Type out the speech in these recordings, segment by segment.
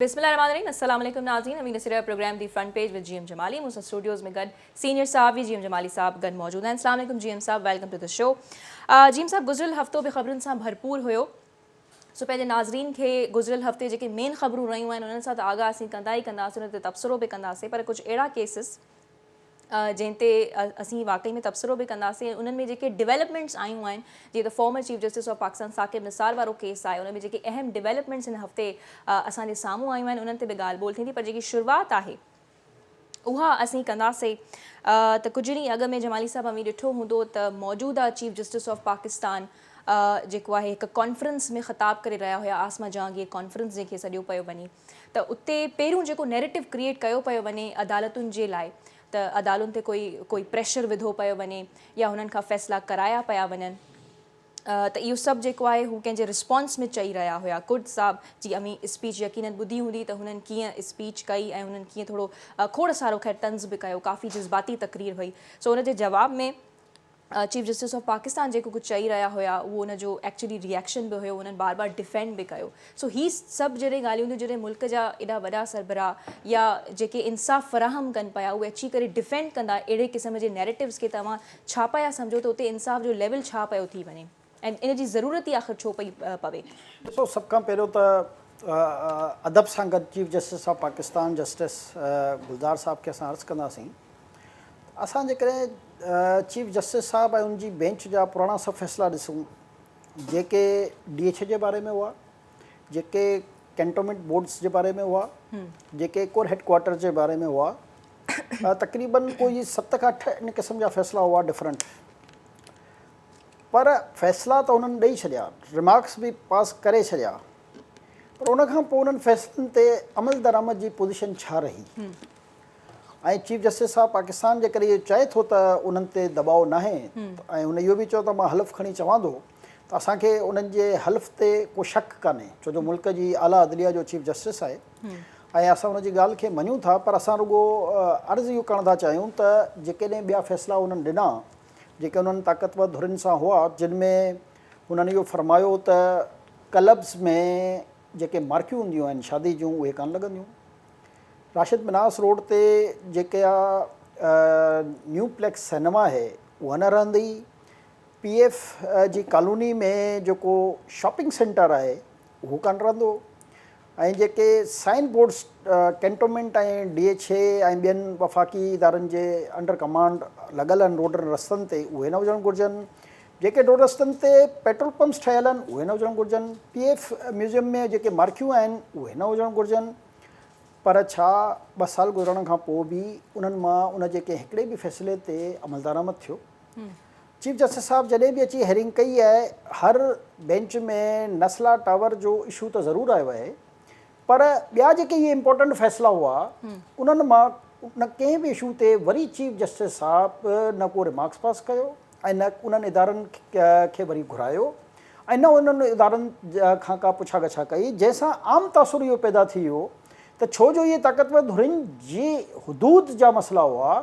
بسم الله الرحمٰن الرحيم السلام عليڪم ناظرين اميد سريا programme the front page with G M Jamali مون سان اسٽوڊيوز ۾ گڏ سينيئر صحافي جي ايم جمالي صاحب گڏ موجود آهن السلام عليڪم جي ايم صاحب welcome to the show G M صاحب گذريل هفتو به خبرن سان ڀرپور هيو سو پنهنجي ناظرين کي گذريل هفتي جيڪي مين خبرون رهيون آهن انهن سان ته آگاهه اسين ڪندا ئي ڪنداسين انهن تي تبصرو به ڪنداسين پر ڪجهه اهڙا ڪيسز جنهن تي اسين واقعي ۾ تبصرو به ڪنداسين ۽ انهن ۾ جيڪي ڊيولپمينٽس آيون آهن جيئن ته former chief justice of Pakistan Saqib Nisar وارو ڪيس آهي ان ۾ جيڪي اهم ڊيولپمينٽس هن هفتي اسان جي سامهون آيون آهن انهن تي به ڳالهه ٻولهه ٿيندي پر جيڪي شروعات آهي اها اسين ڪنداسين ته ڪجهه ڏينهن اڳ ۾ جمالي صاحب اوهين ڏٺو هوندو ته موجوده چيف جسٽس آف پاڪستان جيڪو آهي هڪ ڪانفرنس ۾ خطاب ڪري رهيا هيا عاصمه جهانگير ڪانفرنس جنهن کي سڏيو پيو وڃي ته اتي پهريون جيڪو نيريٽو ڪريئيٽ ڪيو پيو وڃي عدالتن جي لاء ته عدالون تي ڪوئي ڪوئي پريشر وڌو پيو وڃي يا هنن کان فيصلا ڪرايا پيا وڃن ته اهو سڀ جيڪو آهي هو ڪنهن جي رسپانس ۾ چئي رهيا هيا ڪرد صاحب جي اوهين اسپيچ يقينن ٻڌي هوندي ته هنن ڪيئن اسپيچ ڪئي ۽ هنن ڪيئن ٿورو کوڙ سارو خير طنز به ڪيو ڪافي جذباتي تقرير هئي سو ان جي جواب ۾ چيف جسٽس آف پاڪستان جيڪو ڪجهه چئي رهيا هيا اهو ان جو ايڪچولي ري ايڪشن به هيو انهن بار بار ڊفينڊ به ڪيو سو هي سڀ جڏهن ڳالهيون ٿيون جڏهن ملڪ جا ايڏا وڏا سربراهه يا جيڪي انصاف فراهم ڪن پيا اهي اچي ڪري ڊفينڊ ڪندا اهڙي قسم جي نيريٽوز کي ته اوهان ڇا پيا سمجهو ته اتي انصاف جو ليول ڇا پيو ٿي وڃي. ۽ ان جي ضرورت ئي آخر ڇو پئي پوي؟ ڏسو سڀ کان پهريون ته ادب سان گڏ chief justice of Pakistan justice Gulzar صاحب کي اسان عرض ڪنداسين ته اسان جيڪڏهن چيف جسٽس صاحب ۽ ان جي بينچ جا پراڻا سڀ فيصلا ڏسون جيڪي ڊي ايڇ اي جي باري ۾ هئا جيڪي ڪينٽومينٽ بورڊز جي باري ۾ هئا جيڪي ڪور هيڊ ڪوارٽر جي باري ۾ هئا تقريبن ڪوئي ست کان اٺ ان قسم جا فيصلا هئا ڊفرنٽ پر فيصلا ته هنن ڏئي ڇڏيا، ريمارڪس به پاس ڪري ڇڏيا، پر ان کان پوء انهن فيصلن تي عملدرآمد جي پوزيشن ڇا رهي؟ ۽ چيف جسٽس صاحب پاڪستان جيڪڏهن اهو چئي ٿو ته انهن تي دٻاء ناهي ۽ هن اهو به چيو ته مان حلف کڻي چوان ٿو ته اسان کي انهن جي حلف تي ڪو شڪ ڪانهي ڇو جو ملڪ جي اعليٰ عدليه جو چيف جسٽس آهي ۽ اسان ان جي ڳالهه کي مڃون ٿا پر اسان رڳو عرض اهو ڪرڻ ٿا چاهيون ته جيڪڏهن ٻيا فيصلا انهن ڏنا جيڪي انهن طاقتور ڌرين سان هئا، جن ۾ هنن اهو فرمايو هو ته ڪلبز ۾ جيڪي مارڪيون هونديون آهن شادي جون اهي ڪانه لڳنديون. راشد مناس روڊ تي جيڪا نيو پليڪس سئنيما آهي اها نه رهندي، پي ايف جي ڪالوني ۾ جيڪو شاپنگ سينٽر آهي اهو ڪانه رهندو، ۽ جيڪي sign boards cantonment ۽ D H A ۽ ٻين وفاقي ادارن جي انڊر ڪمانڊ لڳل آهن روڊن رستن تي اهي نه هجڻ گهرجن، جيڪي روڊ رستن تي پيٽرول پمپس ٺهيل آهن اهي نه هجڻ گهرجن، پي ايف ميوزيم ۾ جيڪي مارڪيون آهن اهي نه هجڻ گهرجن پر ڇا ٻه سال گذرڻ کان پوء به انهن مان ان جي ڪنهن هڪڙي به فيصلي تي عملدرآمد ٿيو؟ چيف جسٽس صاحب جڏهن به اچي هيرنگ ڪئي آهي هر بينچ ۾ نسلا ٽاور جو اشو ته ضرور آيو آهي پر ٻيا جيڪي اهي امپورٽنٽ فيصلا هئا انهن مان نه ڪنهن به اشو تي وري چيف جسٽس صاحب نه ڪو ريمارڪس پاس ڪيو ۽ نه انهن ادارن کي وري گهرايو ۽ نه انهن ادارن کان ڪا پڇا ڳڇا ڪئي جنهن سان عام تاثر اهو پيدا ٿي ويو ته ڇو جو اهي طاقتور ڌرين جي حدود جا مسئلا هئا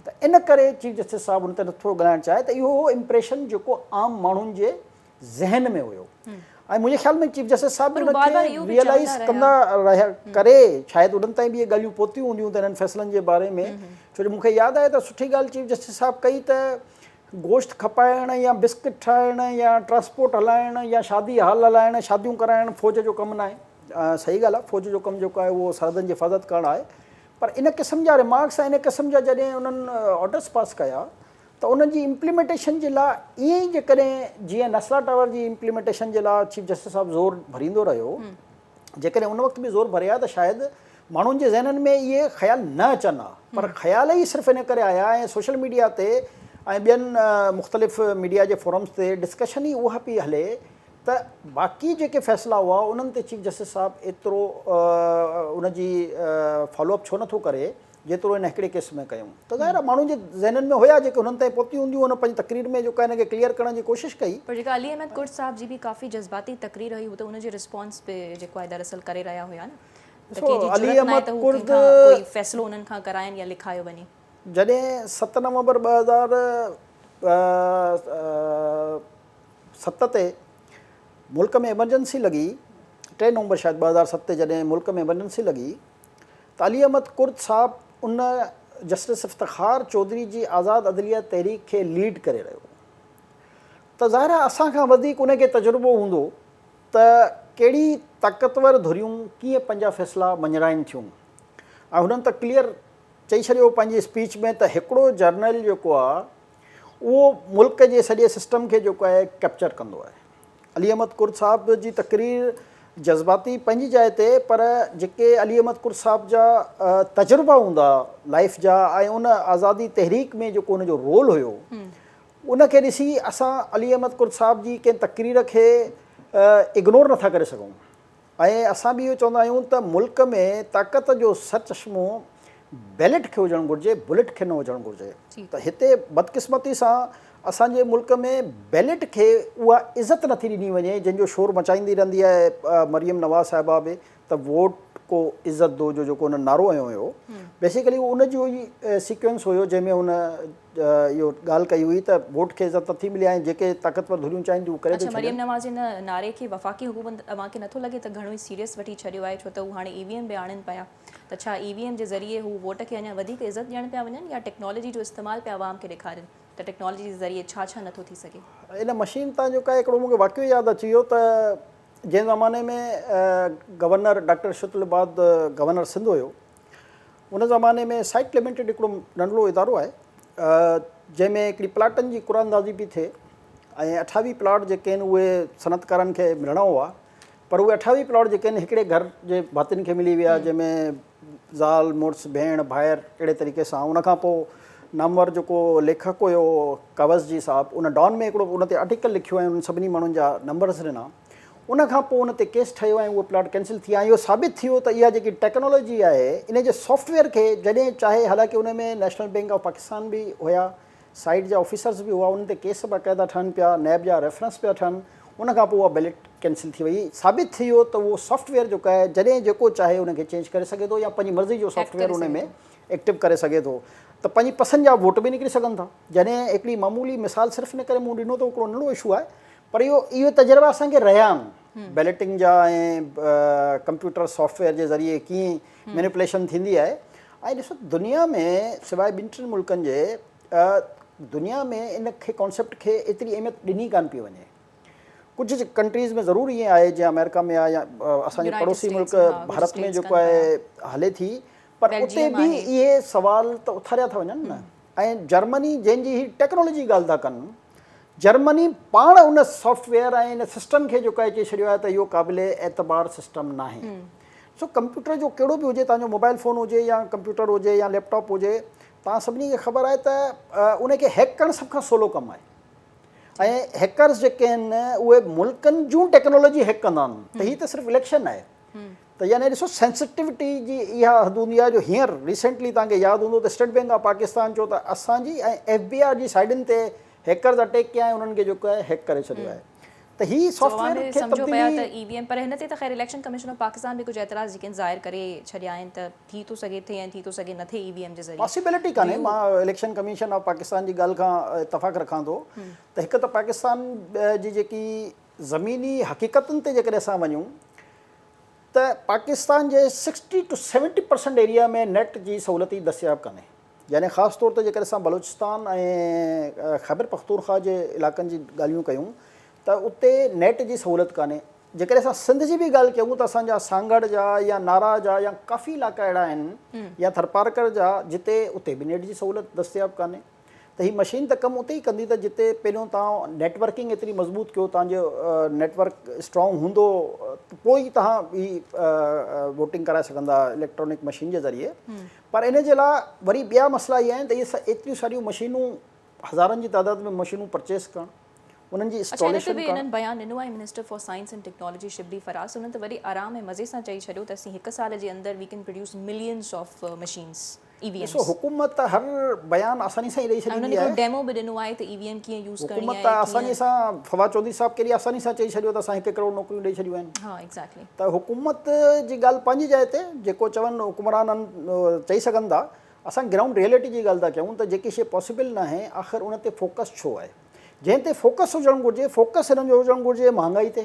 ته ان ڪري چيف جسٽس صاحب ان تي نه ٿورو ڳالهائڻ چاهي ته اهو هو امپريشن جيڪو عام ماڻهن جي ذهن ۾ هيو ۽ منهنجي خيال ۾ چيف جسٽس صاحب به ان کي ريئلائيز ڪندا رهيا ڪري شايد انهن تائين به اهي ڳالهيون پهتيون هونديون ته انهن فيصلن جي باري ۾ ڇو جو مون کي ياد آهي ته سٺي ڳالهه چيف جسٽس صاحب ڪئي ته گوشت کپائڻ يا بسڪٽ ٺاهڻ يا ٽرانسپورٽ هلائڻ يا شادي هال هلائڻ شاديون ڪرائڻ فوج جو ڪم ناهي صحيح ڳالهه آهي فوج جو ڪم جيڪو آهي اهو سرحدن جي حفاظت ڪرڻ آهي پر ان قسم جا ريمارڪس ۽ ان قسم جا جڏهن انهن آرڊرس پاس ڪيا ته انهن جي امپليمينٽيشن جي لاء ائين ئي جيڪڏهن جيئن نسلا ٽاور جي امپليمينٽيشن جي لاء چيف جسٽس صاحب زور ڀريندو رهيو جيڪڏهن ان وقت به زور ڀري ها ته شايد ماڻهن جي ذهنن ۾ اهي خيال نه اچن ها پر خيال ئي صرف ان ڪري آيا ۽ سوشل ميڊيا تي ۽ ٻين مختلف ميڊيا جي فورمز تي ڊسڪشن ئي اها پئي هلي ته باقي جيڪي فيصلا هئا انهن تي چيف جسٽس صاحب ايترو ان جي فالو اپ ڇو نٿو ڪري جيترو هن هڪڙي ڪيس ۾ ڪيون ته ظاهر آهي ماڻهن جي ذهنن ۾ هيا جيڪي هنن تائين پهتيون هونديون هن پنهنجي تقرير ۾ جيڪو هن کي ڪليئر ڪرڻ جي ڪوشش ڪئي پر جيڪا علي احمد ڪرٽ صاحب جي به ڪافي جذباتي تقرير هئي هو ته ان جي رسپانس به جيڪو آهي دراصل ڪري رهيا هيا نه ته ڪنهن جي جرئت نه آهي ته هو ڪنهن کان ڪوئي فيصلو انهن کان ڪرائين يا لکايو وڃي. جڏهن ست نومبر ٻه هزار ست تي ملڪ ۾ ايمرجنسي لڳي، ٽي نومبر شايد ٻه هزار ست تي جڏهن ملڪ ۾ ايمرجنسي لڳي ته علي احمد ڪرد صاحب ان جسٽس افتخار چوڌري جي آزاد عدليه تحريڪ کي ليڊ ڪري رهيو هو ته ظاهر آهي اسان کان وڌيڪ ان کي تجربو هوندو ته ڪهڙي طاقتور ڌريون ڪيئن پنهنجا فيصلا مڃرائين ٿيون ۽ هنن ته ڪليئر چئي ڇڏيو هو پنهنجي اسپيچ ۾ ته هڪڙو جرنل جيڪو آهي اهو ملڪ جي سڄي سسٽم کي جيڪو آهي ڪئپچر ڪندو آهي. علي احمد ڪرد صاحب جي تقرير جذباتي پنهنجي جاء تي پر جيڪي علي احمد ڪرد صاحب جا تجربا هوندا لائيف جا ۽ ان آزادي تحريڪ ۾ جيڪو ان جو رول هيو ان کي ڏسي اسان علي احمد ڪرد صاحب جي ڪنهن تقرير کي اگنور نٿا ڪري سگهون. ۽ اسان به اهو چوندا آهيون ته ملڪ ۾ طاقت جو سرچشمو بيلٽ کي هجڻ گهرجي، بلٽ کي نه هجڻ گهرجي ته هتي بدقسمتي سان اسان جي ملڪ ۾ بيلٽ کي اها عزت نٿي ڏني وڃي جنهن جو شور مچائيندي رهندي آهي مريم نواز صاحبه به ته ووٽ ڪو عزت دو جو جيڪو هن نعرو هنيو هيو بيسيڪلي ان جو ئي سيڪوينس هيو جنهن ۾ هن اهو ڳالهه ڪئي هئي ته ووٽ کي عزت نٿي ملي ۽ جيڪي طاقتور ڌريون چاهين ٿيون اهو ڪري ٿيون ڇڏين. مريم نواز ان نعري کي وفاقي حڪومت اوهان کي نٿو لڳي ته گهڻو ئي سيريس وٺي ڇڏيو آهي ڇو ته هو هاڻي اي وي ايم به آڻين پيا ته ڇا اي وي ايم جي ذريعي هو ووٽ کي اڃا وڌيڪ عزت ڏيڻ پيا وڃن يا ٽيڪنالاجي جو استعمال پيا عوام کي ڏيکارين ته ٽيڪنالاجي جي ذريعي ڇا ڇا نٿو ٿي سگهي. ان مشين تان جو ڪاهي هڪڙو مون کي واقعو ياد اچي ويو ته جنهن زماني ۾ governor doctor Arshad ul Ibad governor Sindh هيو ان زماني ۾ سائيٽ لميٽيڊ هڪڙو ننڍڙو ادارو آهي جنهن ۾ هڪڙي پلاٽن جي قرعه اندازي پئي ٿئي ۽ اٺاويهه پلاٽ جيڪي آهن اهي صنعتڪارن کي ملڻا هئا پر اهي اٺاويهه پلاٽ جيڪي آهن هڪڙي گهر جي ڀاتين کي ملي ويا جنهن ۾ زال مڙس ڀيڻ ڀائر اهڙي طريقي سان ان کان پوء نامور جيڪو ليکڪ هيو ڪاوس جي صاحب ان ڊان ۾ هڪڙو ان تي آرٽيڪل لکيو ۽ انهن سڀني ماڻهن جا نمبرز ڏنا ان کان پوء ان تي ڪيس ٺهيو ۽ اهو پلاٽ ڪينسل ٿي ۽ اهو ثابت ٿيو ته اها جيڪي ٽيڪنالاجي آهي ان جي سافٽ ويئر کي جڏهن چاهي حالانڪه ان ۾ نيشنل بئنڪ آف پاڪستان به هيا سائيٽ جا آفيسرز به هئا انهن تي ڪيس باقاعده ٺهن پيا نيب جا ريفرنس پيا ٺهن ان کان پوء اها بيلٽ ڪينسل ٿي وئي ثابت ٿيو ته اهو سافٽ ويئر جيڪو آهي جڏهن جيڪو چاهي ان کي چينج ڪري سگهي ٿو يا پنهنجي مرضي جو سافٽ ويئر ان ۾ ايڪٽو ڪري سگهي ٿو ته پنهنجي پسند جا ووٽ به نڪري سگهن ٿا جڏهن هڪڙي معمولي مثال صرف ان ڪري مون ڏنو ته هڪڙو ننڍڙو اشو آهي پر اهو اهي تجربا اسان کي رهيا آهن بيلٽنگ جا ۽ ڪمپيوٽر سافٽ ويئر جي ذريعي ڪيئن مينيپليشن ٿيندي آهي ۽ ڏسو دنيا ۾ سواء ٻن ٽن ملڪن جي دنيا ۾ ان کي ڪانسيپٽ کي ايتري اهميت ڏني ڪانه پئي وڃي ڪجهه ڪنٽريز ۾ ضرور ائين آهي جيئن آمريڪا ۾ آهي يا اسان جي پڙوسي ملڪ ڀارت ۾ جيڪو آهي هلي ٿي پر اتي به اهي سوال ته اٿاريا ٿا وڃن نه ۽ جرمني جنهن جي هي ٽيڪنالاجي ڳالهه ٿا ڪن جرمني پاڻ ان سافٽ ويئر ۽ ان سسٽم کي جوڪائي چئي ڇڏيو آهي ته اهو قابل اعتبار سسٽم ناهي. ڏسو ڪمپيوٽر جو ڪهڙو به هجي توهان جو موبائيل فون هجي يا ڪمپيوٽر هجي يا ليپ ٽاپ هجي توهان سڀني کي خبر آهي ته ان کي هيڪ ڪرڻ سڀ کان سولو ڪم آهي ۽ هيڪرز جيڪي آهن اهي ملڪن جون ٽيڪنالاجي هيڪ ڪندا آهن ته هي ته صرف اليڪشن آهي ته يعني ڏسو سينسٽيوٽي جي اها حدونيا جو هينئر ريسينٽلي توهان کي ياد هوندو ته اسٽيٽ بينڪ آف پاڪستان چيو ته اسان جي ۽ ايف بي آر جي سائيڊن تي هيڪرز اٽيڪ ڪيا ۽ انهن کي جيڪو آهي هيڪ ڪري ڇڏيو آهي ته هي سافٽ ويئر کي تبديلي پر هن تي ته خير اليڪشن ڪميشن آف پاڪستان به ڪجهه اعتراض جيڪي ظاهر ڪري ڇڏيا آهن ته ٿي ٿو سگهي ٿئي ۽ ٿي ٿو سگهي نه ٿئي اي وي ايم جي ذريعي پاسيبلٽي ڪانهي مان اليڪشن ڪميشن آف پاڪستان جي ڳالهه کان اتفاق رکان ٿو ته هڪ ته پاڪستان جي جيڪي زميني حقيقتن تي جيڪڏهن اسان وڃون ته پاڪستان جي sixty two seventy percent area ۾ net جي سهولت ئي دستياب ڪانهي يعني خاص طور تي جيڪڏهن اسان بلوچستان ۽ خيبر پختونخواهه جي علائقن جي ڳالهيون ڪيون ته اتي نيٽ جي سهولت ڪانهي جيڪڏهن اسان سنڌ جي به ڳالهه ڪيون ته اسان جا سانگهڙ جا يا نارا جا يا ڪافي علائقا اهڙا آهن يا ٿرپارڪر جا جتي اتي به نيٽ جي سهولت دستياب ڪانهي. ته هي مشين ته ڪم اتي ئي ڪندي ته جتي پهريون توهان نيٽ ورڪنگ ايتري مضبوط ڪيو توهان جو نيٽ ورڪ اسٽرانگ هوندو ته پوء ئي توهان هي ووٽنگ ڪرائي سگهندا اليڪٽرانڪ مشين جي ذريعي پر ان جي لاء وري ٻيا مسئلا اهي آهن ته اهي ايتريون ساريون مشينون هزارن جي تعداد ۾ مشينون پرچيز ڪرڻ انهن جي اسٽاليشن ڪرڻ اڇا ان تي به انهن بيان ڏنو آهي minister for science and technology Shibli Faraz انهن ته وري آرام ۽ مزي سان چئي ڇڏيو ته اسين هڪ سال جي اندر we can produce millions of machines. E V Ms. ڏسو حڪومت ته هر بيان آساني سان ئي ڏئي ڇڏيندي آهي. انهن هڪڙو ڊيمو به ڏنو آهي ته اي وي ايم ڪيئن يوز ڪرڻي آهي ڪيئن. حڪومت ته آساني سان فواد چوڌري صاحب ڪيڏي آساني سان چئي ڇڏيو ته اسان هڪ ڪروڙ نوڪريون ڏئي ڇڏيون آهن. ها ايگزيڪٽلي. ته حڪومت جي ڳالهه پنهنجي جاء تي جيڪو چون حڪمران چئي سگهن ٿا اسان گرائونڊ ريئلٽي جي ڳالهه ٿا ڪيون ته جيڪي شي پاسيبل ناهي آخر ان تي فوڪس ڇو آهي جنهن تي فوڪس هجڻ گهرجي فوڪس هنن جو هجڻ گهرجي مهانگائي تي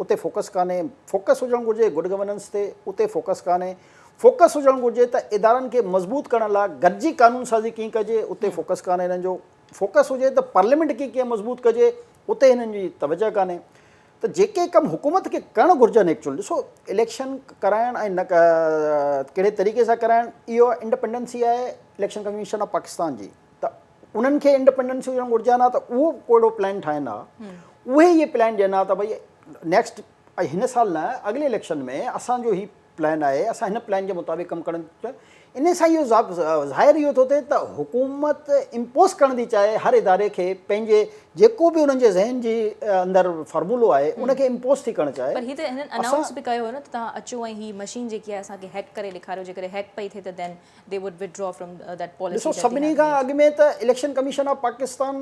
اتي فوڪس ڪانهي، فوڪس هجڻ گهرجي گڊ گورننس تي، اتي فوڪس ڪانهي، فوڪس هجڻ گهرجي ته ادارن کي مضبوط ڪرڻ لاء گڏجي قانون سازي ڪيئن ڪجي، اتي فوڪس ڪانهي هنن جو، فوڪس هجي ته پارليامينٽ کي ڪيئن مضبوط ڪجي، اتي هنن جي توجهه ڪانهي. ته جيڪي ڪم حڪومت کي ڪرڻ گهرجن ايڪچوئل ڏسو اليڪشن ڪرائڻ ۽ نه ڪهڙي طريقي سان ڪرائڻ اهو انڊپنڊنسي آهي اليڪشن ڪميشن آف پاڪستان جي ته انهن کي انڊپينڊنس هجڻ گهرجي ها نه ته اهو ڪو اهڙو پلان ٺاهين ها اهي اهي پلان ڏين ها ته ڀئي نيڪسٽ هن سال نه اڳلي اليڪشن ۾ اسان جو هي پلان آهي اسان هن پلان جي مطابق ڪم ڪرڻ ان سان اهو ظاهر اهو ٿو ٿئي ته حڪومت امپوز ڪرڻ ٿي چاهي هر اداري کي پنهنجي جيڪو به انهن جي ذهن جي اندر فارمولو آهي ان کي امپوز ٿي ڪرڻ چاهي پر هي ته هنن انائونس به ڪيو هو نه ته توهان اچو ۽ هي مشين جيڪي آهي اسان کي هيڪ ڪري ڏيکاريو جيڪڏهن هيڪ پئي ٿئي ته then they would withdraw from that policy ڏسو سڀني کان اڳ ۾ ته اليڪشن ڪميشن آف پاڪستان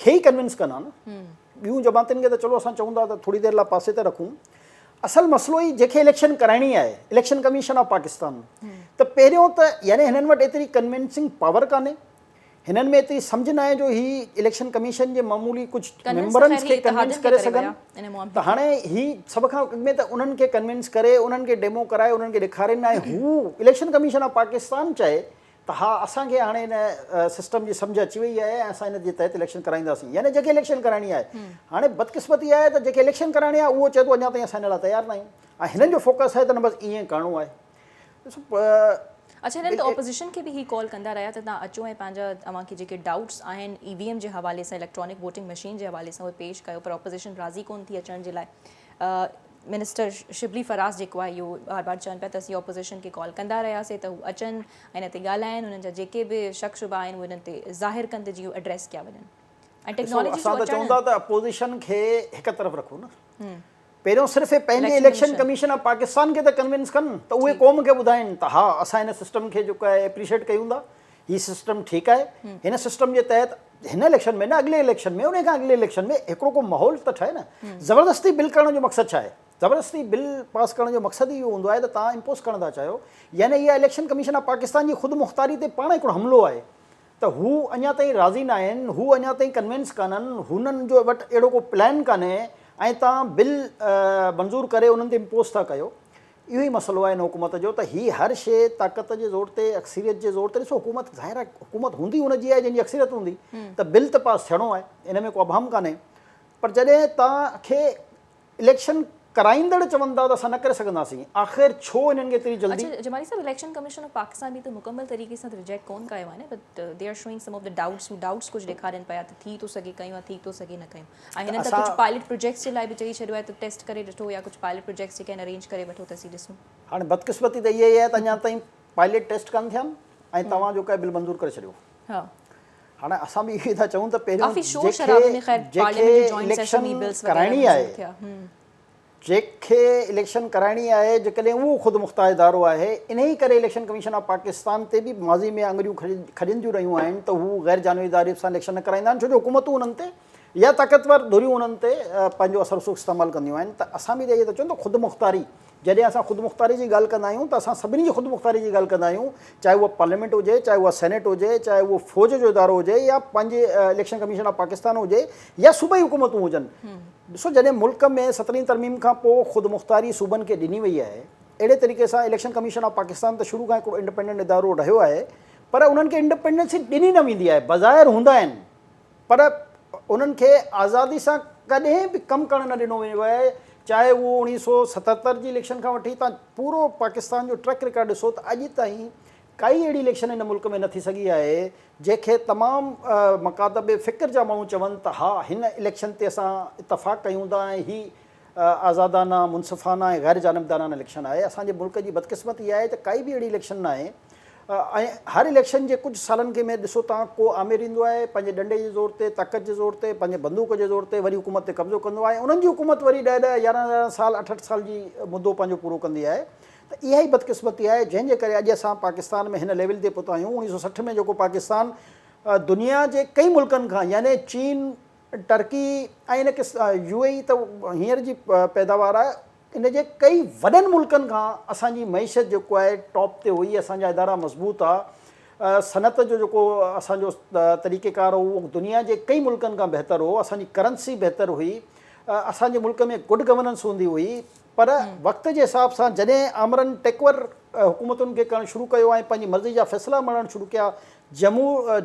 کي ئي ڪنوينس ڪن ها نه ٻيون جماعتن کي ته چلو اسان چون ٿا ته ٿوري دير لاء پاسي تي رکون اصل مسئلو هي جنهن کي اليڪشن ڪرائڻي آهي اليڪشن ڪميشن آف پاڪستان ته پهريون ته يعني هنن وٽ ايتري ڪنوينسنگ پاور ڪانهي هنن ۾ ايتري سمجهه ناهي جو هي اليڪشن ڪميشن جي معمولي ڪجهه ميمبرن کي ڪنوينس ڪري سگهن ته هاڻي هي سڀ کان اڳ ۾ ته انهن کي ڪنوينس ڪري انهن کي ڊيمو ڪرائي انهن کي ڏيکارين ۽ هو اليڪشن ڪميشن آف پاڪستان چئي ته ها اسان کي هاڻي هن سسٽم جي سمجهه اچي وئي آهي ۽ اسان ان جي تحت اليڪشن ڪرائينداسين يعني جنهن کي اليڪشن ڪرائڻي آهي هاڻي بدقسمتي اها آهي ته جنهن کي اليڪشن ڪرائڻي آهي اهو چئي ٿو اڃا تائين اسان ان لاء تيار ناهيون ۽ هنن جو فوڪس آهي ته نه بس ائين ڪرڻو آهي ڏسو. اڇا هنن ته اپوزيشن کي به هي ڪال ڪندا رهيا ته تهان اچو ۽ پنهنجا اوهان کي جيڪي ڊائوٽس آهن اي وي ايم جي حوالي سان اليڪٽرانڪ ووٽنگ مشين جي حوالي سان اهي پيش ڪيو پر اپوزيشن راضي ڪون ٿي اچڻ جي لاء منسٽر شبلي فراز جيڪو آهي اهو بار بار چون پيا ته اسين اپوزيشن کي ڪال ڪندا رهياسي ته هو اچن ۽ هن تي ڳالهائن هنن جا جيڪي به شڪ شبا آهن اهي هنن تي ظاهر ڪن ته جيئن اهي ايڊريس ڪيا وڃن ۽ ٽيڪنالاجي جو اچڻ اسان ته چون ٿا ته اپوزيشن کي هڪ طرف رکو نه پهريون صرف اهي پنهنجي اليڪشن ڪميشن آف پاڪستان کي ته ڪنوينس ڪن ته اهي قوم کي ٻڌائين ته ها اسان هن سسٽم کي جيڪو آهي اپريشيٽ ڪيون ٿا هي سسٽم ٺيڪ آهي هن سسٽم جي تحت هن اليڪشن ۾ نه اڳلي اليڪشن ۾ ان کان اڳلي اليڪشن ۾ هڪڙو ڪو ماحول ته ٺهي نه زبردستي بل ڪرڻ جو مقصد ڇا آهي زبردستي بل پاس ڪرڻ جو مقصد اهو هوندو آهي ته تان امپوز ڪرڻ ٿا چاهيو يعني اها اليڪشن ڪميشن آف پاڪستان جي خود مختاري تي پاڻ هڪڙو حملو آهي ته هو اڃا تائين راضي ناهن، هو اڃا تائين ڪنوينس ڪانهن، هنن جو وٽ اهڙو ڪو پلان ڪانهي ۽ توهان بل منظور ڪري انهن تي امپوز ٿا ڪيو. اهو ئي مسئلو آهي هن حڪومت جو ته هي هر شيء طاقت جي زور تي، اڪثريت جي زور تي، ڏسو حڪومت ظاهر آهي حڪومت هوندي ان جي آهي جنهن جي اڪثريت هوندي ته بل ته پاس ٿيڻو آهي، ان ۾ ڪو ابهم ڪانهي پر جڏهن توهان کي اليڪشن ڪرائيندڙ چون ٿا ته اسان نه ڪري سگهنداسين آخر ڇو انهن کي ايتري جلدي. اڇا جمالي صاحب اليڪشن ڪميشن آف پاڪستان به ته مڪمل طريقي سان ته ريجيڪٽ ڪون ڪايو آهي نه but they are showing some of the doubts هو ڊائوٽس ڪجهه ڏيکارين پيا ته ٿي ٿو سگهي ڪيون يا ٿي ٿو سگهي نه ڪيون ۽ هنن ته ڪجهه پائلٽ پروجيڪٽس جي لاء به چئي ڇڏيو آهي ته ٽيسٽ ڪري ڏٺو يا ڪجهه پائلٽ پروجيڪٽس جيڪي آهن ارينج ڪري وٺو ته اسين ڏسون. هاڻي بدقسمتي ته اها ئي آهي ته اڃا تائين پائلٽ ٽيسٽ ڪانه ٿيا آهن ۽ توهان جو ڪا بل منظور ڪري ڇڏيو. هاڻي اسان به اهو ئي ٿا چئون ته پهريون جيڪي اليڪشن ڪرائڻي آهي جيڪي اليڪشن ڪرائڻي آهي جيڪڏهن اهو خود مختار ادارو آهي انهي ڪري اليڪشن ڪميشن آف پاڪستان تي به ماضي ۾ آڱريون کڄنديون رهيون آهن ته هو غير جانبي اداري سان اليڪشن نه ڪرائيندا آهن ڇو جو حڪومتون انهن تي يا طاقتور ڌريون انهن تي پنهنجو اثر رسوخ استعمال ڪنديون آهن ته اسان به اهو ئي ٿا چئون ته خود مختاري جڏهن اسان خودمختاري جي ڳالهه ڪندا آهيون ته اسان سڀني جي خودمختاري جي ڳالهه ڪندا آهيون چاهي اها پارليامينٽ هجي، چاهي اها سينيٽ هجي، چاهي اهو فوج جو ادارو هجي يا پنهنجي اليڪشن ڪميشن آف پاڪستان هجي يا صوبائي حڪومتون هجن. ڏسو جڏهن ملڪ ۾ سترهين ترميم کان پوء خودمختاري صوبن کي ڏني وئي آهي اهڙي طريقي سان اليڪشن ڪميشن آف پاڪستان ته شروع کان هڪڙو انڊپينڊنٽ ادارو رهيو آهي پر انهن کي انڊپينڊنسي ڏني نه ويندي آهي، بظاهر هوندا آهن. پر انهن کي آزادي سان ڪڏهن به ڪم ڪرڻ نه ڏنو ويو آهي، چاهي اهو اوڻيهه سؤ ستهتر جي اليڪشن کان وٺي تان پورو پاڪستان جو ٽريڪ رڪارڊ ڏسو ته اڄ تائين ڪائي اهڙي اليڪشن هن ملڪ ۾ نه ٿي سگهي آهي جنهن کي تمام مڪاتب فڪر جا ماڻهو چون ته ها هن اليڪشن تي اسان اتفاق ڪيون ٿا ۽ هي آزادانه، منصفانه ۽ غير جانبدارانه اليڪشن آهي، اسان جي ملڪ جي بدقسمتي اها آهي ته ڪائي به اهڙي اليڪشن نه آهي ۽ هر اليڪشن جي ڪجهه سالن کي ۾ ڏسو تان ڪو آمر ايندو آهي پنهنجي ڏنڊي جي زور تي طاقت جي زور تي پنهنجي بندوق جي زور تي وري حڪومت تي قبضو ڪندو آهي ۽ انهن جي حڪومت وري ڏهه ڏهه يارهن يارهن سال اٺ اٺ سال جي مدو پنهنجو پورو ڪندي آهي ته اها ئي بدقسمتي آهي جنهن جي ڪري اڄ اسان پاڪستان ۾ هن ليول تي پهتا آهيون اوڻيهه سئو سٺ ۾ جيڪو پاڪستان دنيا جي ڪئين ملڪن کان يعني چين ٽرڪي ۽ ان ڪس يو اي اي ته هينئر جي پيداوار آهي ان جي ڪئي وڏن ملڪن کان اسان جي معيشت جيڪو آهي ٽاپ تي هئي اسان جا ادارا مضبوط ها صنعت جو جيڪو اسان جو طريقه ڪار هو اهو دنيا جي ڪئي ملڪن کان بهتر هو اسان جي ڪرنسي بهتر هئي اسان جي ملڪ ۾ گڊ گورننس هوندي هئي پر وقت جي حساب سان جڏهن آمرن ٽيڪور حڪومتن کي ڪرڻ شروع ڪيو ۽ پنهنجي مرضي جا فيصلا مڙهڻ شروع ڪيا،